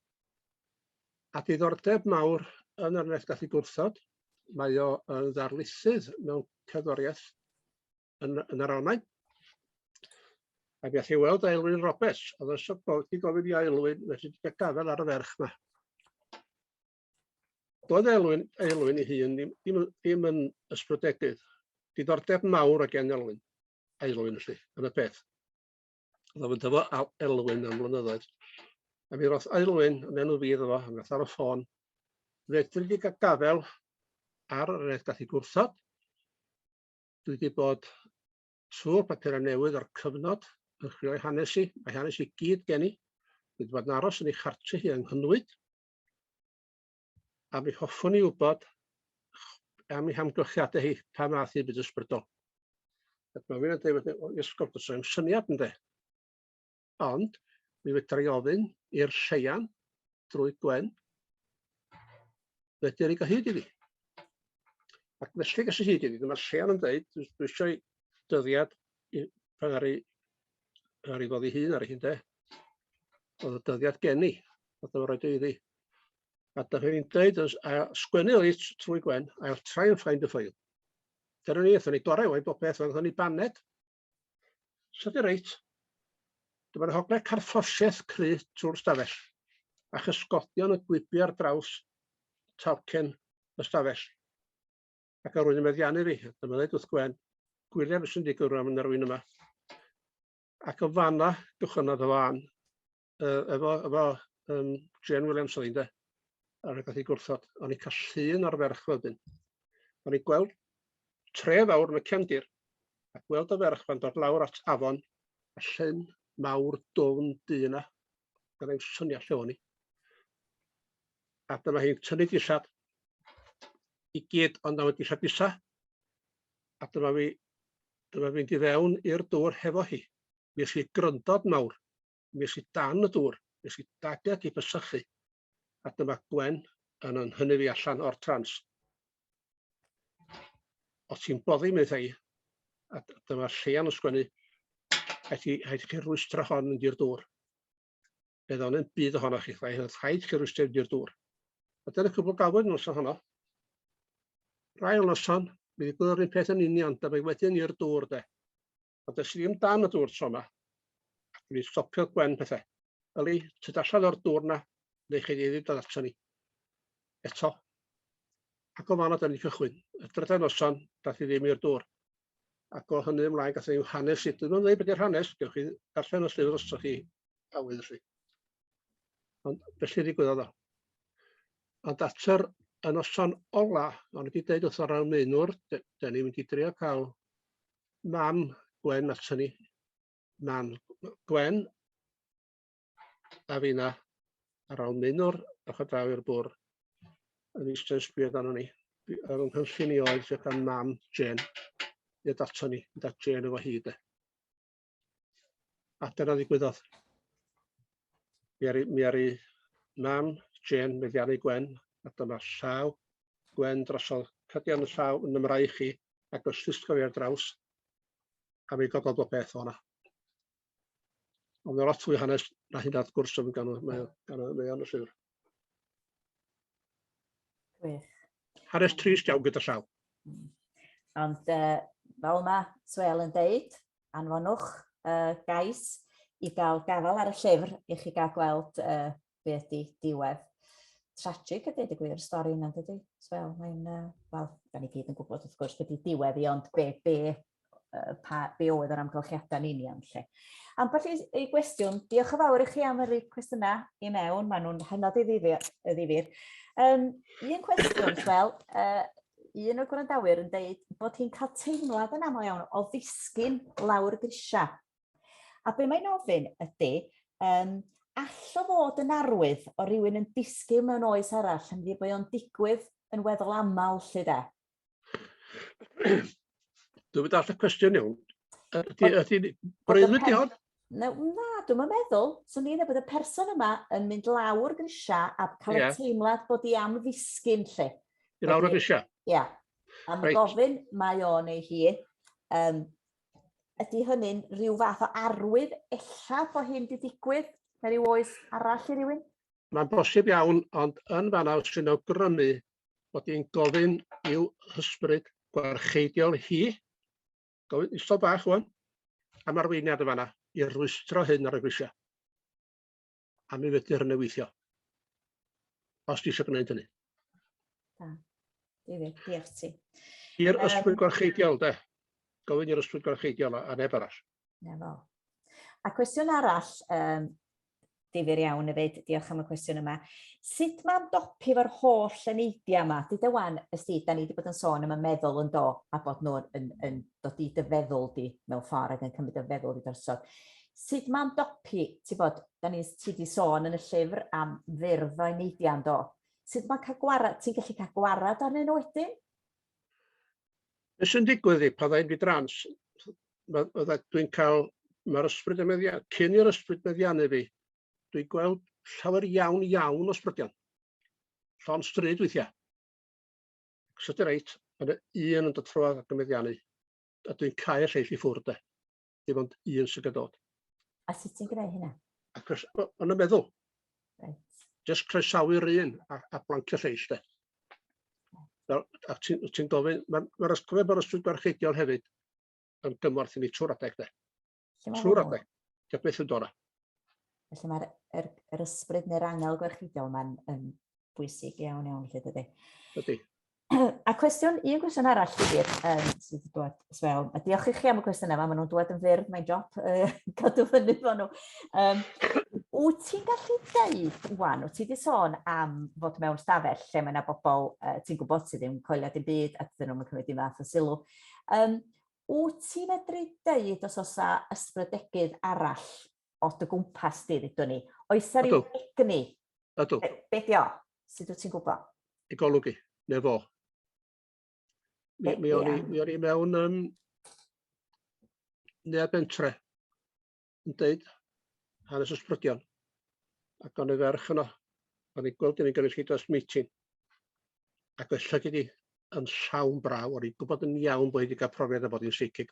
A diddordeb mawr yn yr nes gallu gwrthod, mae o yn ddarlithydd mewn cerddoriaeth yn yn yr Almaen. A mi allai weld Aelwyn Roberts, oedd yn sôn bod wedi gofyn i Aelwyn nes i gael gafel ar y ferch yma. Doedd Aelwyn, Aelwyn ei hun ddim, ddim, ddim yn ysbrydedig. Diddordeb mawr o gen Elwyn, Aelwyn felly, yn y peth. Oedd o'n dyfo Elwyn am flynyddoedd. A mi roth Aelwyn yn enw fi iddo fo, a mi roth ar y ffôn. Fedri di gael gafel ar yr eithaf i gwrthod, Dwi 'di bod trw'r papura' newydd o'r cyfnod yn chwilio i hanes i, a'i hanes i gyd gen i. Dwi 'di bod yn aros yn ei chartre hi yng Nghynwyd, a mi hoffwn i wybod am ei hamgylchiadau hi, pa math i fyd ysbrydol. Ac mae rhywun yn dweud, o, iesgob, does 'na'm syniad ynde. ond mi fedra i ofyn i'r Seian drwy Gwen fedr i gyhyd iddi. Ac felly ges i hyd iddi, dyma'r Seian yn dweud, dwi dwi eisiau dyddiad i pan ar ei ar ei ddod i hun ar ei hun de. Oedd y dyddiad gen i, oedd o'n rhaid iddi. A da chi'n dweud, sgwennu oedd trwy Gwen, I'll try and find a file. Dyna ni, aethon ni gorau o'i bob peth, aethon ni baned, So di reit. Dyma'r hogle carthosiaeth cry trwy'r stafell, a chysgodion yn gwibio ar draws talcen y stafell. Ac ar rwy'n yn meddiannu fi, dyma ddweud wrth Gwen, gwylia beth sy'n digwydd rwan yn yr rwy'n yma. Ac o fanna, gychwynnodd y fan. yy efo efo yym Jên Williams oedd hi ynde? A rywbeth i gwrthod, o'n i'n cael llun o'r ferch wedyn. O'n i'n gweld tre fawr yn y cefndir, a gweld y ferch fan dod lawr at afon, a llyn mawr dwfn du yna. Gan ddim syniad lle o'n i. A dyma hi'n tynnu dillad i gyd ond na wedi llabisa. A dyma fi dyma fi'n mynd i fewn i'r dŵr hefo hi. Mi es i gryndod mawr. Mi es i dan y dŵr, mi es i daded i bysychu, a dyma Gwen yn yn hynny fi allan o'r trans. Os ti'n boddi, mi ddau, a dyma Llean yn sgwennu, rhaid chi, rhaid chi rwystro hon yn di'r dŵr. Bydd o'n yn byd ohonoch chi, rhaid chi rwystro yn di'r dŵr. A dyna cwbl galwyd nos ohono. Rai o noson, mi ddigwyddo'r un peth yn union, dyma wedyn i'r dŵr de. Ond es i ddim dan y dŵr tro 'ma. Mi stopiodd Gwen pethe. Yli, tyd allan o'r dŵr 'na, neu chi ddim dod ato ni. Eto. Ac o fan'na 'dan ni'n cychwyn. Y drydan noson, dath i ddim i'r dŵr. Ac o hynny ymlaen, gath ni'n hanes i. Dwi'n meddwl dweud beth yw'r hanes, gewch chi darllen y llyfr os ydych chi awydd felly. Ond felly ddigwyddodd o. Ond at yr y noson ola, o'n i wedi dweud wrth o'r arweinwr, da ni'n mynd i drio cael Mam Gwen a Tony. Mam Gwen a finna ar ôl mynwr a chod draw i'r bwr. Yn eistedd yn sbio dan ni. Ar ôl nghynllun i oedd sydd gan mam Jane. I'r dato ni, da Jane efo hyd e. A dyna ddigwyddodd. Mi aru mi aru mam Jane meddiannu Gwen, a dyma llaw Gwen drosodd, cydian y llaw yn ym mraich i, ac os llusgo fi ar draws, a mi gododd bob peth o'na. Ond mae lot fwy hanes na hynna wrth gwrs yn gan y, mae o, gan y, mae o'n y llyfr. Gwych. Hanes trist iawn gyda llaw. Hmm. Ond uh, fel mae Swel yn deud, anfonwch uh, gais i gael gafael ar y llyfr i chi gael gweld uh, be ydy diwedd. Tragic ydy, dweud y gwir, stori yna, dydy? Swel, mae'n, uh, wel, da ni gyd yn gwybod wrth gwrs beth ydy diwedd i, ond be, be, pa, be oedd yr amgylchiadau yn union lle. Ambell i gwestiwn, diolch yn fawr i chi am yr cwestiynau i mewn, maen nhw'n hynod i ddifyr. Um, un cwestiwn, wel, uh, un o'r gwrandawyr yn dweud bod hi'n cael teimlad yn aml iawn o ddisgyn lawr grisiau. A be mae'n ofyn ydy, um, all o fod yn arwydd o rywun yn disgyn mewn oes arall, yn ddi bod o'n digwydd yn weddol aml lle de. Dwi'n mynd all y cwestiwn iawn. Ydy, breuddwyd di hon? Na, na dwi'n meddwl, swn i'n bod y person yma yn mynd lawr grisiau a cael yeah. y teimlad bod i am ddisgyn lle. I lawr y grisiau? Ie. Yeah. Am right. gofyn mae o neu hi, um, ydy hynny'n rhyw fath o arwydd ella bod hyn wedi digwydd mewn rhyw oes arall i rywun? Mae'n bosib iawn, ond yn fanna os ti'n awgrymu bod hi'n gofyn i'w hysbryd gwarcheidiol hi, gofyn isod bach rwan, am arweiniad y fanna i rwystro hyn ar y grisiau. A mi fyddir yn weithio. Os ti eisiau gwneud hynny. Da. Difyr, diolch ti. I'r ysbryd gwarcheidiol, de. Gofyn i'r ysbryd gwarcheidiol a neb arall. Na fo. A cwestiwn arall, um, difyr iawn fyd, diolch am y cwestiwn yma. Sut mae'n dopi fo'r holl eneidiau yma? Dwi dy wan, ysdi, da ni wedi bod yn sôn am y meddwl yn do, a bod nhw yn, yn dod i dy feddwl di mewn ffordd ac yn cymryd y feddwl i drosodd. Sut mae'n dopi, ti bod, da ni ti wedi sôn yn y llyfr am fyrdd o eneidiau yn do. Sut mae'n cael gwarad, ti'n gallu cael gwarad arnyn nhw wedyn? Be sy'n digwydd i pan ddau'n di-drans? Ma- fydda- Dwi'n cael... Mae'r ysbryd yn meddia- cyn i'r ysbryd meddianu fi, dwi'n gweld llawer iawn iawn o sbrydion. Llond stryd weithiau. Os ydy reit, ma' 'na un yn dod trwodd ac yn meddianu, a dwi'n cau'r lleill i ffwrdd de. dim ond un sy'n gadod. A sut ti'n gwneud hynna? Ac os, yn y meddwl. Right. Just croesawu'r un a, a blancio lleill de. Fel, a ti'n ti gofyn, mae'r ma ysgrifennu bod ysgrifennu gwarcheidiol hefyd yn gymorth i ni trwy'r adeg de. Trwy'r adeg. Dio beth yn dod Felly mae'r er, er ysbryd neu'r angel gwarcheidiol mae'n yn bwysig iawn iawn lle dydy. Dydy. a cwestiwn, un cwestiwn arall Llyfr, um, sydd wedi dod as well. A diolch i chi am y cwestiynau yma, maen nhw'n dod yn fyr, mae'n job uh, cadw fyny fo nhw. Um, wyt ti'n gallu deud, wan, wyt ti wedi sôn am fod mewn stafell lle mae yna bobl uh, ti'n gwybod sydd ddim coelio dim byd a dyn nhw'n cymryd dim fath o sylw. Um, wyt ti'n medru deud os oes ysbrydegydd arall o dy gwmpas di, ddydw ni. Oes ar ryw egni? Ydw. Be, be di o? Sut wyt ti'n gwybod? Y golwg i, neu fo. Mi, mi o'n i, mi o'n i mewn um, neu'r bentre yn dweud hanes ysbrydion. Ac o'n i ferch yno, o'n i'n gweld yn ei gynulleidfa dros meeting. Ac oes llygyd wedi yn llawn braw, o'n i'n gwybod yn iawn bod wedi cael profiad o bod yn seicig.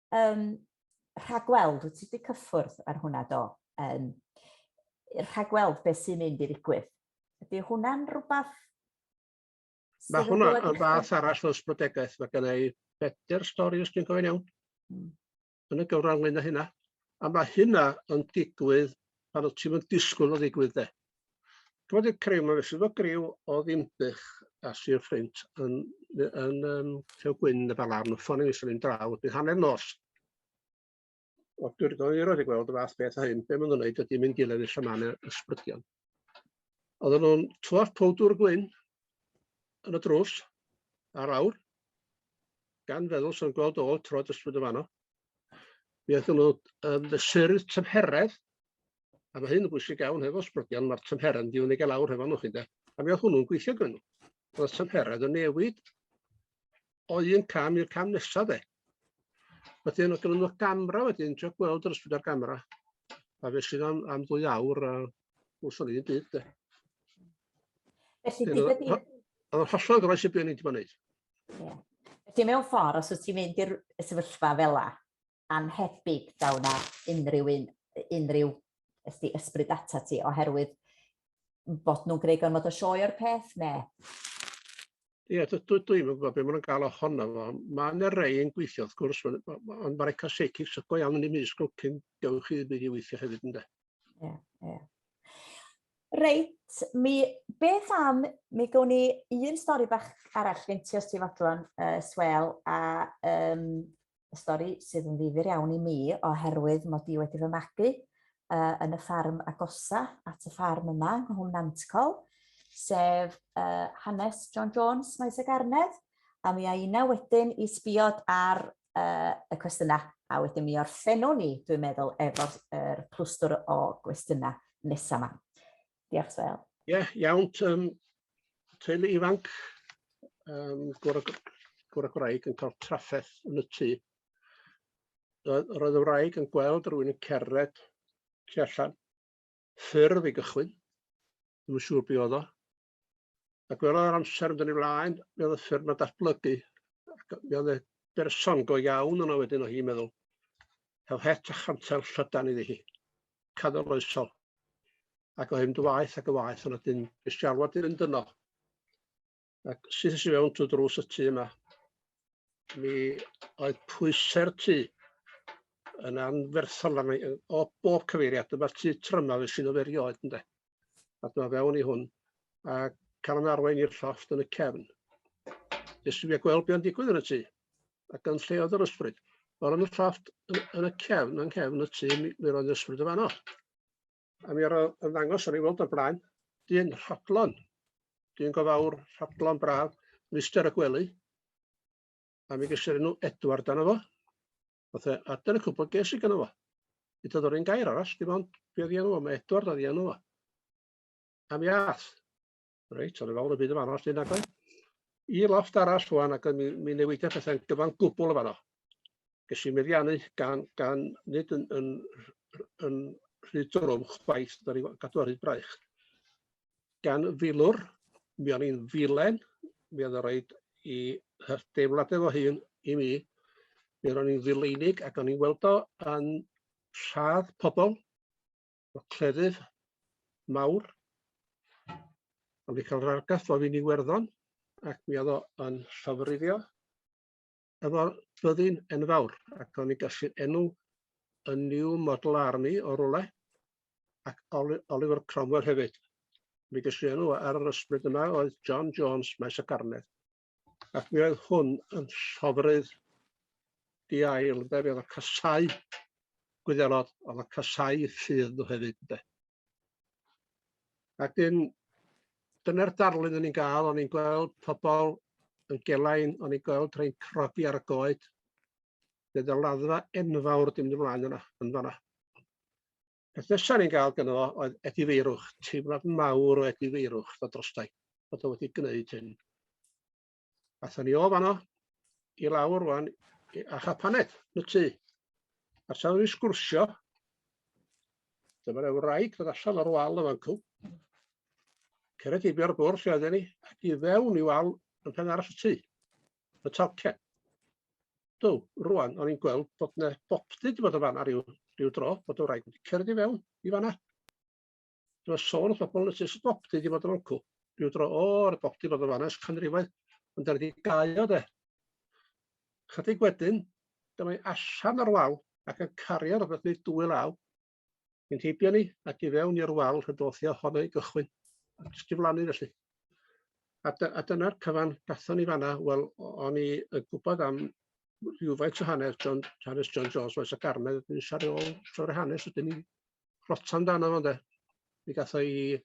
um, rhagweld, wyt ti wedi cyffwrdd ar hwnna do, um, rhagweld beth sy'n mynd i ddigwydd. Ydy hwnna'n rhywbeth... Mae hwnna yn fath arall fel sbrydegaeth. Mae gen i bedair stori os dwi'n gofyn iawn. Hmm. Yn y gyfran lŷn o hynna. A mae hynna yn digwydd pan wyt ti'n disgwyl o ddigwydd de. Dwi wedi creu, mae'n swyddog griw o ddimbych a Sir Ffrint yn, yn um, Llew Gwyn y Balarn, y ffôn i sy'n mynd draw, bydd hanner nos. O, dwi'n rydw i roed i gweld y fath beth o hyn, be maen nhw'n gwneud ydy mynd diledd i llamanau ysbrydion. Oedden nhw'n twaf powdwr gwyn yn y drws ar awr, gan feddwl sy'n gweld ôl troed ysbryd y fanno. Mi oeddwn nhw yn fesurydd tymheredd A mae hyn yn bwysig iawn hefo sbrydion, mae'r tymheredd yn mynd i fyny gael lawr hefo nhw chi de. A mi oedd hwnnw'n gweithio gyda nhw. Oedd y tymheredd yn newid o un cam i'r cam nesaf de. Wedyn o gyda nhw gamra wedyn, ti'n gweld yr ysbryd ar gamra. A fe sydd am, am ddwy awr a wrth o'n i'n byd de. Felly bydd y byd... Oedd o'n hollol gyfais i byd o'n i'n gwneud. Felly mewn ffordd, os wyt ti'n mynd i'r sefyllfa fel la, annhebyg daw yna unrhyw un, unrhyw ysdi ysbryd data ti, oherwydd bod nhw'n gwneud gormod o sioe o'r peth, ne? Ie, dwi, dwi, dwi'n gwybod beth maen nhw'n gael ohono fo. Mae yna rei yn gweithio, wrth gwrs, ond mae'r eco seicis y go iawn yn ei mis gwyl cyn dewch chi ddim wedi weithio hefyd, ynddo? Ie, ie. Reit, mi beth am, mi gawn ni un stori bach arall gen ti os ti'n fodlon, uh, Swel, a um, y stori sydd yn ddifyr iawn i mi oherwydd mod i wedi fy magu uh, yn y ffarm agosa at y ffarm yma yng Nghwm Nantcol, sef uh, hanes John Jones, Maes y Garnedd, a mi a una wedyn i sbiod ar uh, y cwestiynau, a wedyn mi orffennwn ni, dwi'n meddwl, efo'r er clwstwr o gwestiynau nesaf yma. Diolch, Sel. Ie, yeah, iawn. Um, teulu ifanc, um, gwr, gwr a gwraig yn cael trafferth yn y tŷ. Roedd y wraig yn gweld rhywun yn cerdded tu allan. Ffyrdd i gychwyn, ddim yn siŵr beth oedd o. A gwelodd yr amser yn dyn i flaen, mi oedd y ffyrdd yma datblygu. Mi oedd y berson go iawn yna wedyn o hi'n meddwl. Hel het a chantel llydan iddi hi. canoloesol, ac o hyn dy waeth ac yn waeth, ond wedyn ges i alwad i fynd yno. Ac syth i mewn trwy drws y tŷ yma, mi oedd pwysau'r tŷ yn anferthol fan o bob cyfeiriad. Dyma'r tŷ tryma fe sy'n oferio oed ynde. a dyma fewn i hwn, a cael yn arwain i'r llofft yn y cefn. Jyst i gweld beth yn digwydd yn y tŷ, a gan lle oedd yr ysbryd. Wel, yn y llofft, yn y cefn, yn cefn y tŷ, mi, mi roedd yr ysbryd y fanno. A mi ar y ddangos o'n i weld o'r blaen, dyn rhodlon, dyn go fawr, rhodlon braf, mister y gwely, a mi gysur enw Edward dan efo. Nath e adar y cwbl ges i gynno fo. Nid oedd o'r un gair arall, dim ond be' oedd 'i enw o, mae Edward oedd 'i enw o. A mi ath, reit, o'n i fel y byd yn fanno, os nag oedd, i loft arall rwan ac mi, mi newidia pethau'n gyfan gwbl yn fanno. Ges i meddiannu gan, gan nid yn, yn, yn rhy drwm chwaith, da ni gadw ar hyd braich. gan filwr, mi o'n i'n ddilen, mi oedd o roid i hy- deimlad efo hun i mi, mi ro'n i'n ddileunig ac o'n i'n weld o yn rhad pobl, o cleddyf mawr, o'n i'n cael yr argraff o fi'n Iwerddon ac mi oedd o yn llofruddio. efo byddin enfawr, ac o'n i'n gallu'r enw y New Model Army o rwle, ac Oliver Cromwell hefyd. Mi ges i enw ar yr ysbryd yma oedd John Jones, Maes y Garnedd. Ac mi oedd hwn yn llofrydd di ail, ynde, mi oedd y casau gwyddelod, oedd y casau lludd nhw hefyd, ynde. Ac dyn, dyna'r darlun o'n i'n gael, o'n i'n gweld pobl yn gelain, o'n i'n gweld rhai'n crogi ar y goed. Bydd y laddfa enfawr dim yn flaen yna, yn fanna. Peth nesaf ni'n gael gyda fo oedd Edi Feirwch, teimlad mawr o Edi Feirwch, fod drostai, bod o wedi gwneud hyn. Athon ni o fanno i lawr rwan i Acha Paned, yn y tŷ. A tra oeddwn i'n sgwrsio, dyma'r wraig ddod allan o'r wal yn fancw. Cyrraedd heibio ar y bwrdd lle oedden ni, ac i fewn i wal yn pen arall y tŷ. Y talcen. Do, rwan, o'n i'n gweld bod yna bopty wedi bod yn fanna rhyw, rhyw dro, bod y wraig wedi cyrraedd i fewn i fanna. Dwi'n sôn wrth bobl nes i stop di fod yn oncw. Rhyw dro o'r bop di fod yn fanes canrifoedd, ond ar di gael o de. Chydig wedyn, dyma i allan o'r wal ac yn cario rhywbeth neu dwy law. Yn heibio ni ac i fewn i'r wal y dothio honno i gychwyn. Jyst i flannu felly. A, dy, a dyna'r cyfan gathon ni fanna, wel, o'n i yn gwybod am rhywfaint o hanes John, hanes John Jones, Maes y Garnedd, yn siarad ôl trwy'r hanes, ydyn ni rota amdano fo ynde. Mi gath o'i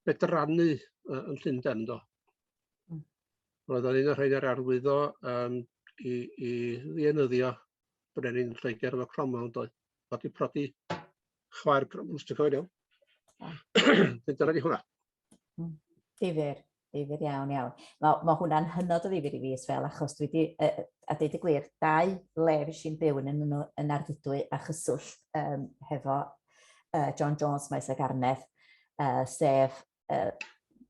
bedrannu uh, yn Llundain do. Hmm. Roedd o'n un o'r rhaid ar arwyddo um, i, i ddienyddio brenin Lloegr efo Cromwell yn doedd. Oedd i prodi chwaer Cromwell, os ti'n cofio iawn. Dyna di hwnna. Hmm. Difyr. Difyr iawn, iawn. Mae, mae hwnna'n hynod o ddifyr i fi as fel, achos dwi wedi, uh, a dweud y gwir, dau le fi sy'n byw yn, yn, yn arddidwy a chyswllt um, hefo uh, John Jones Maes a Garnedd, uh, sef uh,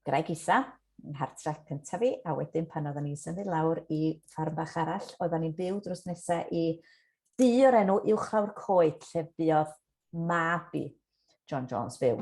Graig Isa, yn hartref cyntaf fi, a wedyn pan oedden ni'n symud lawr i ffarm bach arall, oedden ni'n byw drws nesaf i du o'r enw Uwchlaw'r Coed, lle buodd mab i John Jones fyw.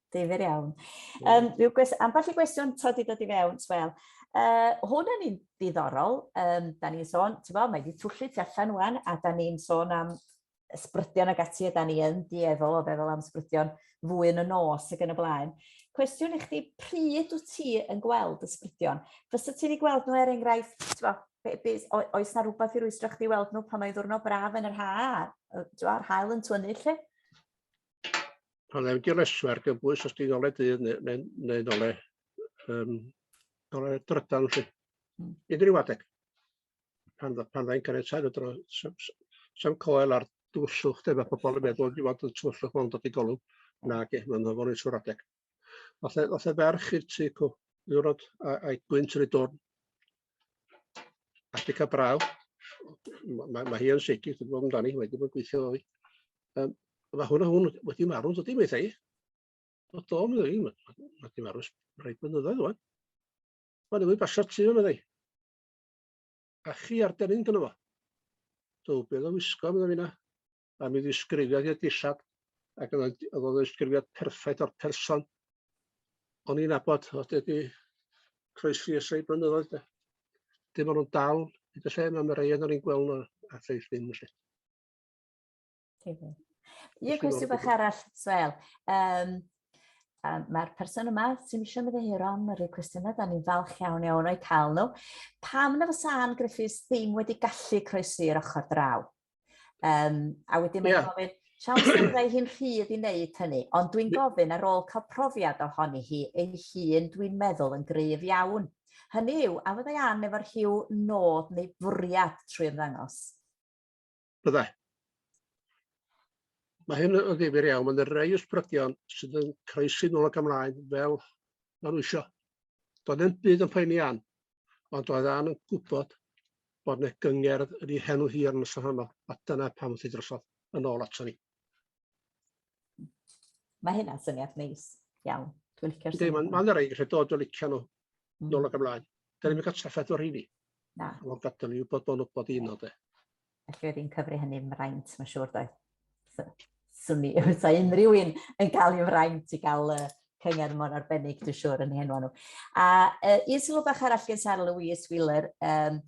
Difyr iawn. Um, rhyw gwest, ambell i gwestiwn to di dod i fewn, Swel. Uh, hwn yn un diddorol, um, da ni'n sôn, ti'n bod, mae wedi twllu ti allan wan, a da ni'n sôn am ysbrydion ag ati, a da ni yn dieddol o feddwl am ysbrydion fwy yn y nos ac yn y blaen. Cwestiwn i chdi, pryd wyt ti yn gweld ysbrydion? Fysa ti'n ei gweld nhw er enghraifft, ti'n bod, be, be, oes na rhywbeth i rwystro chdi weld nhw pan mae ddwrnod braf yn yr ha, yr hael yn twynu lle? pan ddim wedi lesu ar gybwys os ti'n ole dydd neu, neu, neu ole, um, ole drydan chi. Hmm. Unrhyw adeg. Pan, pan ddau'n caniatau y dro, sam coel ar dwyswch dyma pobl yn meddwl i fod yn twyswch ond dod i golwg na ge, mae'n ddofor i sŵr adeg. Oth e ferch i'r tu cw, ddiwrnod a'i gwynt yn ei dwrn. Africa Braw. Mae, mae hi yn seigi, dwi'n gwybod amdani, mae wedi bod yn gweithio fo fi. Um, mae hwn a hwn wedi marw, dydy, mae ei. O do, mae ei, mae wedi marw rhaid mynyddoedd o'n. Mae wedi basio tu o'n ei. A chi ar dynnu'n gyda fo. Do, beth o wisgo, mae fi na. a mi ddisgrifiodd hi'r dillad ac o'dd o'n d- o'dd o'n ddisgrifiad perffaith o'r person o'n i'n nabod o'dd wedi croesi ers rei blynyddoedd de. Dim ond nhw'n dal hyd y lle yma, mae rei o'n i'n gweld nhw a lleill ddim felly. Ie, cwestiwn bach arall, Sel. Um, um, Mae'r person yma sy'n eisiau myddehiro am yr cwestiynau, da ni'n falch iawn iawn o'i cael nhw. Pam na fysa Anne Griffiths ddim wedi gallu croesi'r ochr draw? Yym a wedyn mae'n yeah. gofyn, siawns byddai hi'n rhydd i wneud hynny, ond dwi'n gofyn ar ôl cael profiad ohoni hi ei hun dwi'n meddwl yn gryf iawn. Hynny yw, a fyddai Ann efo'r rhyw nod neu fwriad trwy ymddangos? Byddai. Mae hyn yn ddifur iawn, mae'n rhai ysbrydion sydd yn croesi nôl ac ymlaen fel maen nhw eisiau. Doedd yn byd yn poeni Ann. ond oedd Ann yn gwybod bod yna gyngerdd yn ei henw hi ar y noson honno, a dyna pam wrth ei drosodd yn ôl ato ni. Mae hynna'n syniad neis iawn. Dwi'n licio'r syniad. Mae'n ma rhaid rhaid dod o licio nhw mm. nôl ac ymlaen. Dyna ni'n cael trafferth o'r rheini. Na. Ond gadael ni wybod bod nhw'n bod un o de. Felly oedd hi'n cyfri hynny yn fraint, mae'n siŵr doedd. Swn i, sa unrhyw un yn cael ei fraint i gael uh, cyngerdd mor arbennig, dwi'n siŵr, yn ei henwa nhw. A uh, un sylw bach arall gen Sarah Louise Wheeler, um,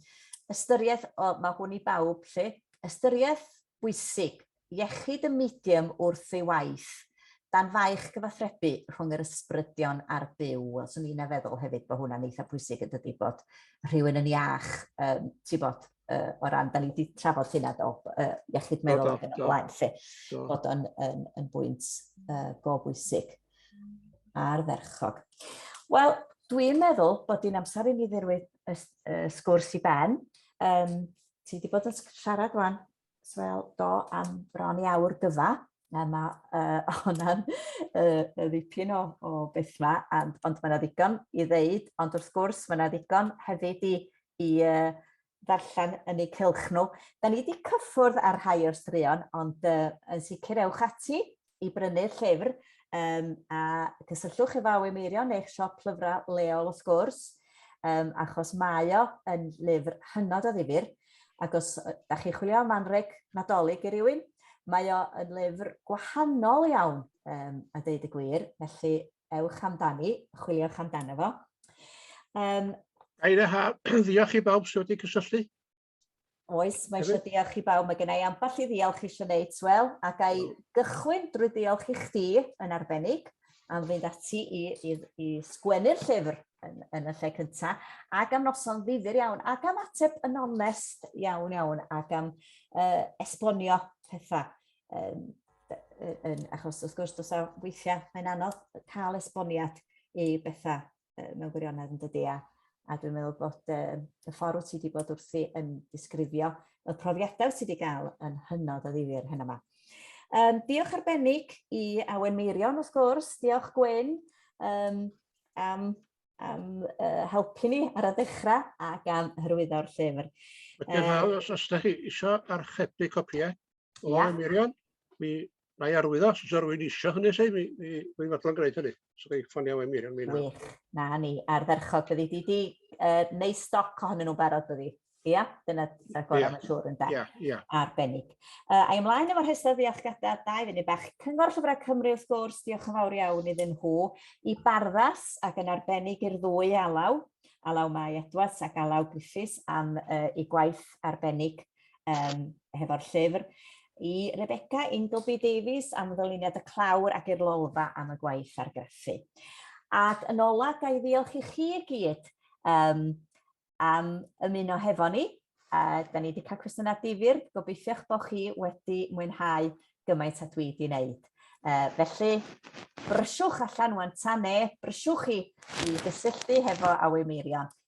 ystyriaeth, o, mae hwn i bawb lle, ystyriaeth bwysig Iechyd y medium wrth ei waith, dan faich gyfathrebu rhwng yr ysbrydion a'r Duw. Wel, swn i'n feddwl hefyd bod hwnna'n eitha pwysig yn dydi, bod rhywun yn iach, um, ti bod, uh, o ran, da ni wedi trafod hynna do, uh, iechyd meddwl ac yn y blaen, lle bod o'n yn, yn bwynt uh, go bwysig ar ferchog. Wel, dwi'n meddwl bod hi'n amser i ni ddirwyd y, y sgwrs i ben. Um, ti wedi bod yn siarad wan Wel, do, am bron i awr gyfa. Mae ma, uh, hwnna'n uh, ddipyn o, o beth ma, and, ond mae yna ddigon i ddeud, ond wrth gwrs mae yna ddigon hefyd i, i uh, ddarllen yn eu cylch nhw. Da ni wedi cyffwrdd ar rhai o'r straeon, ond uh, yn sicr ewch ati i brynu'r llyfr um, a cysylltwch efo Awy Meirion neu'ch siop llyfrau leol wrth gwrs um, achos mae o yn lyfr hynod o ddifur ac os da chi'n chwilio am anreg nadolig i rywun Mae o yn lyfr gwahanol iawn, um, a dweud y gwir, felly ewch amdani, chwiliwch amdano fo. Um, Aira ha, ddiolch i bawb sydd wedi cysylltu. Oes, mae eisiau diolch i bawb. Mae gen i ambell i ddiolch eisiau wneud, Wel, a ga i gychwyn drwy ddiolch i chdi yn arbennig am fynd ati i, i, i sgwennu'r llyfr yn, yn y lle cyntaf, ac am noson ddifur iawn, ac am ateb yn onest iawn iawn, ac am uh, esbonio pethau. Um, yn, achos wrth gwrs, dos a weithiau mae'n anodd cael esboniad i bethau mewn gwirionedd yn dydi a, a dwi'n meddwl bod y, y ffordd ti wedi bod wrthi yn disgrifio y profiadau ti wedi cael yn hynod o ddifur hyn yma. Um, diolch arbennig i Awen Meirion wrth gwrs, diolch Gwyn um, am, am uh, helpu ni ar y dechrau ac am hyrwyddo'r llyfr. Diolch uh, os ydych chi eisiau archebu copïau. O, yeah. Miriam, mi na i arwyddo, os oes rwy'n eisiau hynny, sef, mi, mi, mi fodlon gwneud hynny. So, gael ffonio we Miriam, mi na. Wych, na ni, ardderchog byddi. Di di uh, neu stoc ohonyn nhw'n barod byddi. Ia, yeah, dyna gorau yeah. mae'n siŵr yn da. Yeah, yeah. Arbennig. Uh, a ymlaen efo'r rhestr ddiolchgadau, da i fyny bach. Cyngor Llyfrau Cymru wrth gwrs, diolch yn fawr iawn iddyn nhw. I barddas ac yn arbennig i'r ddwy alaw, alaw Mae Edwards ac alaw Griffiths am uh, ei gwaith arbennig um, hefo'r llyfr, i Rebecca Ingleby Davies am ddyluniad y clawr ac i'r lolfa am y gwaith argraffu. Ac yn ola, ga i ddiolch i chi i gyd um, am ymuno hefo ni. Uh, da ni wedi cael cwestiynau difyr, gobeithio'ch bod chi wedi mwynhau gymaint a dwi wedi wneud. Uh, felly, brysiwch allan wan ta ne, brysiwch chi i gysylltu hefo Awy Meirion.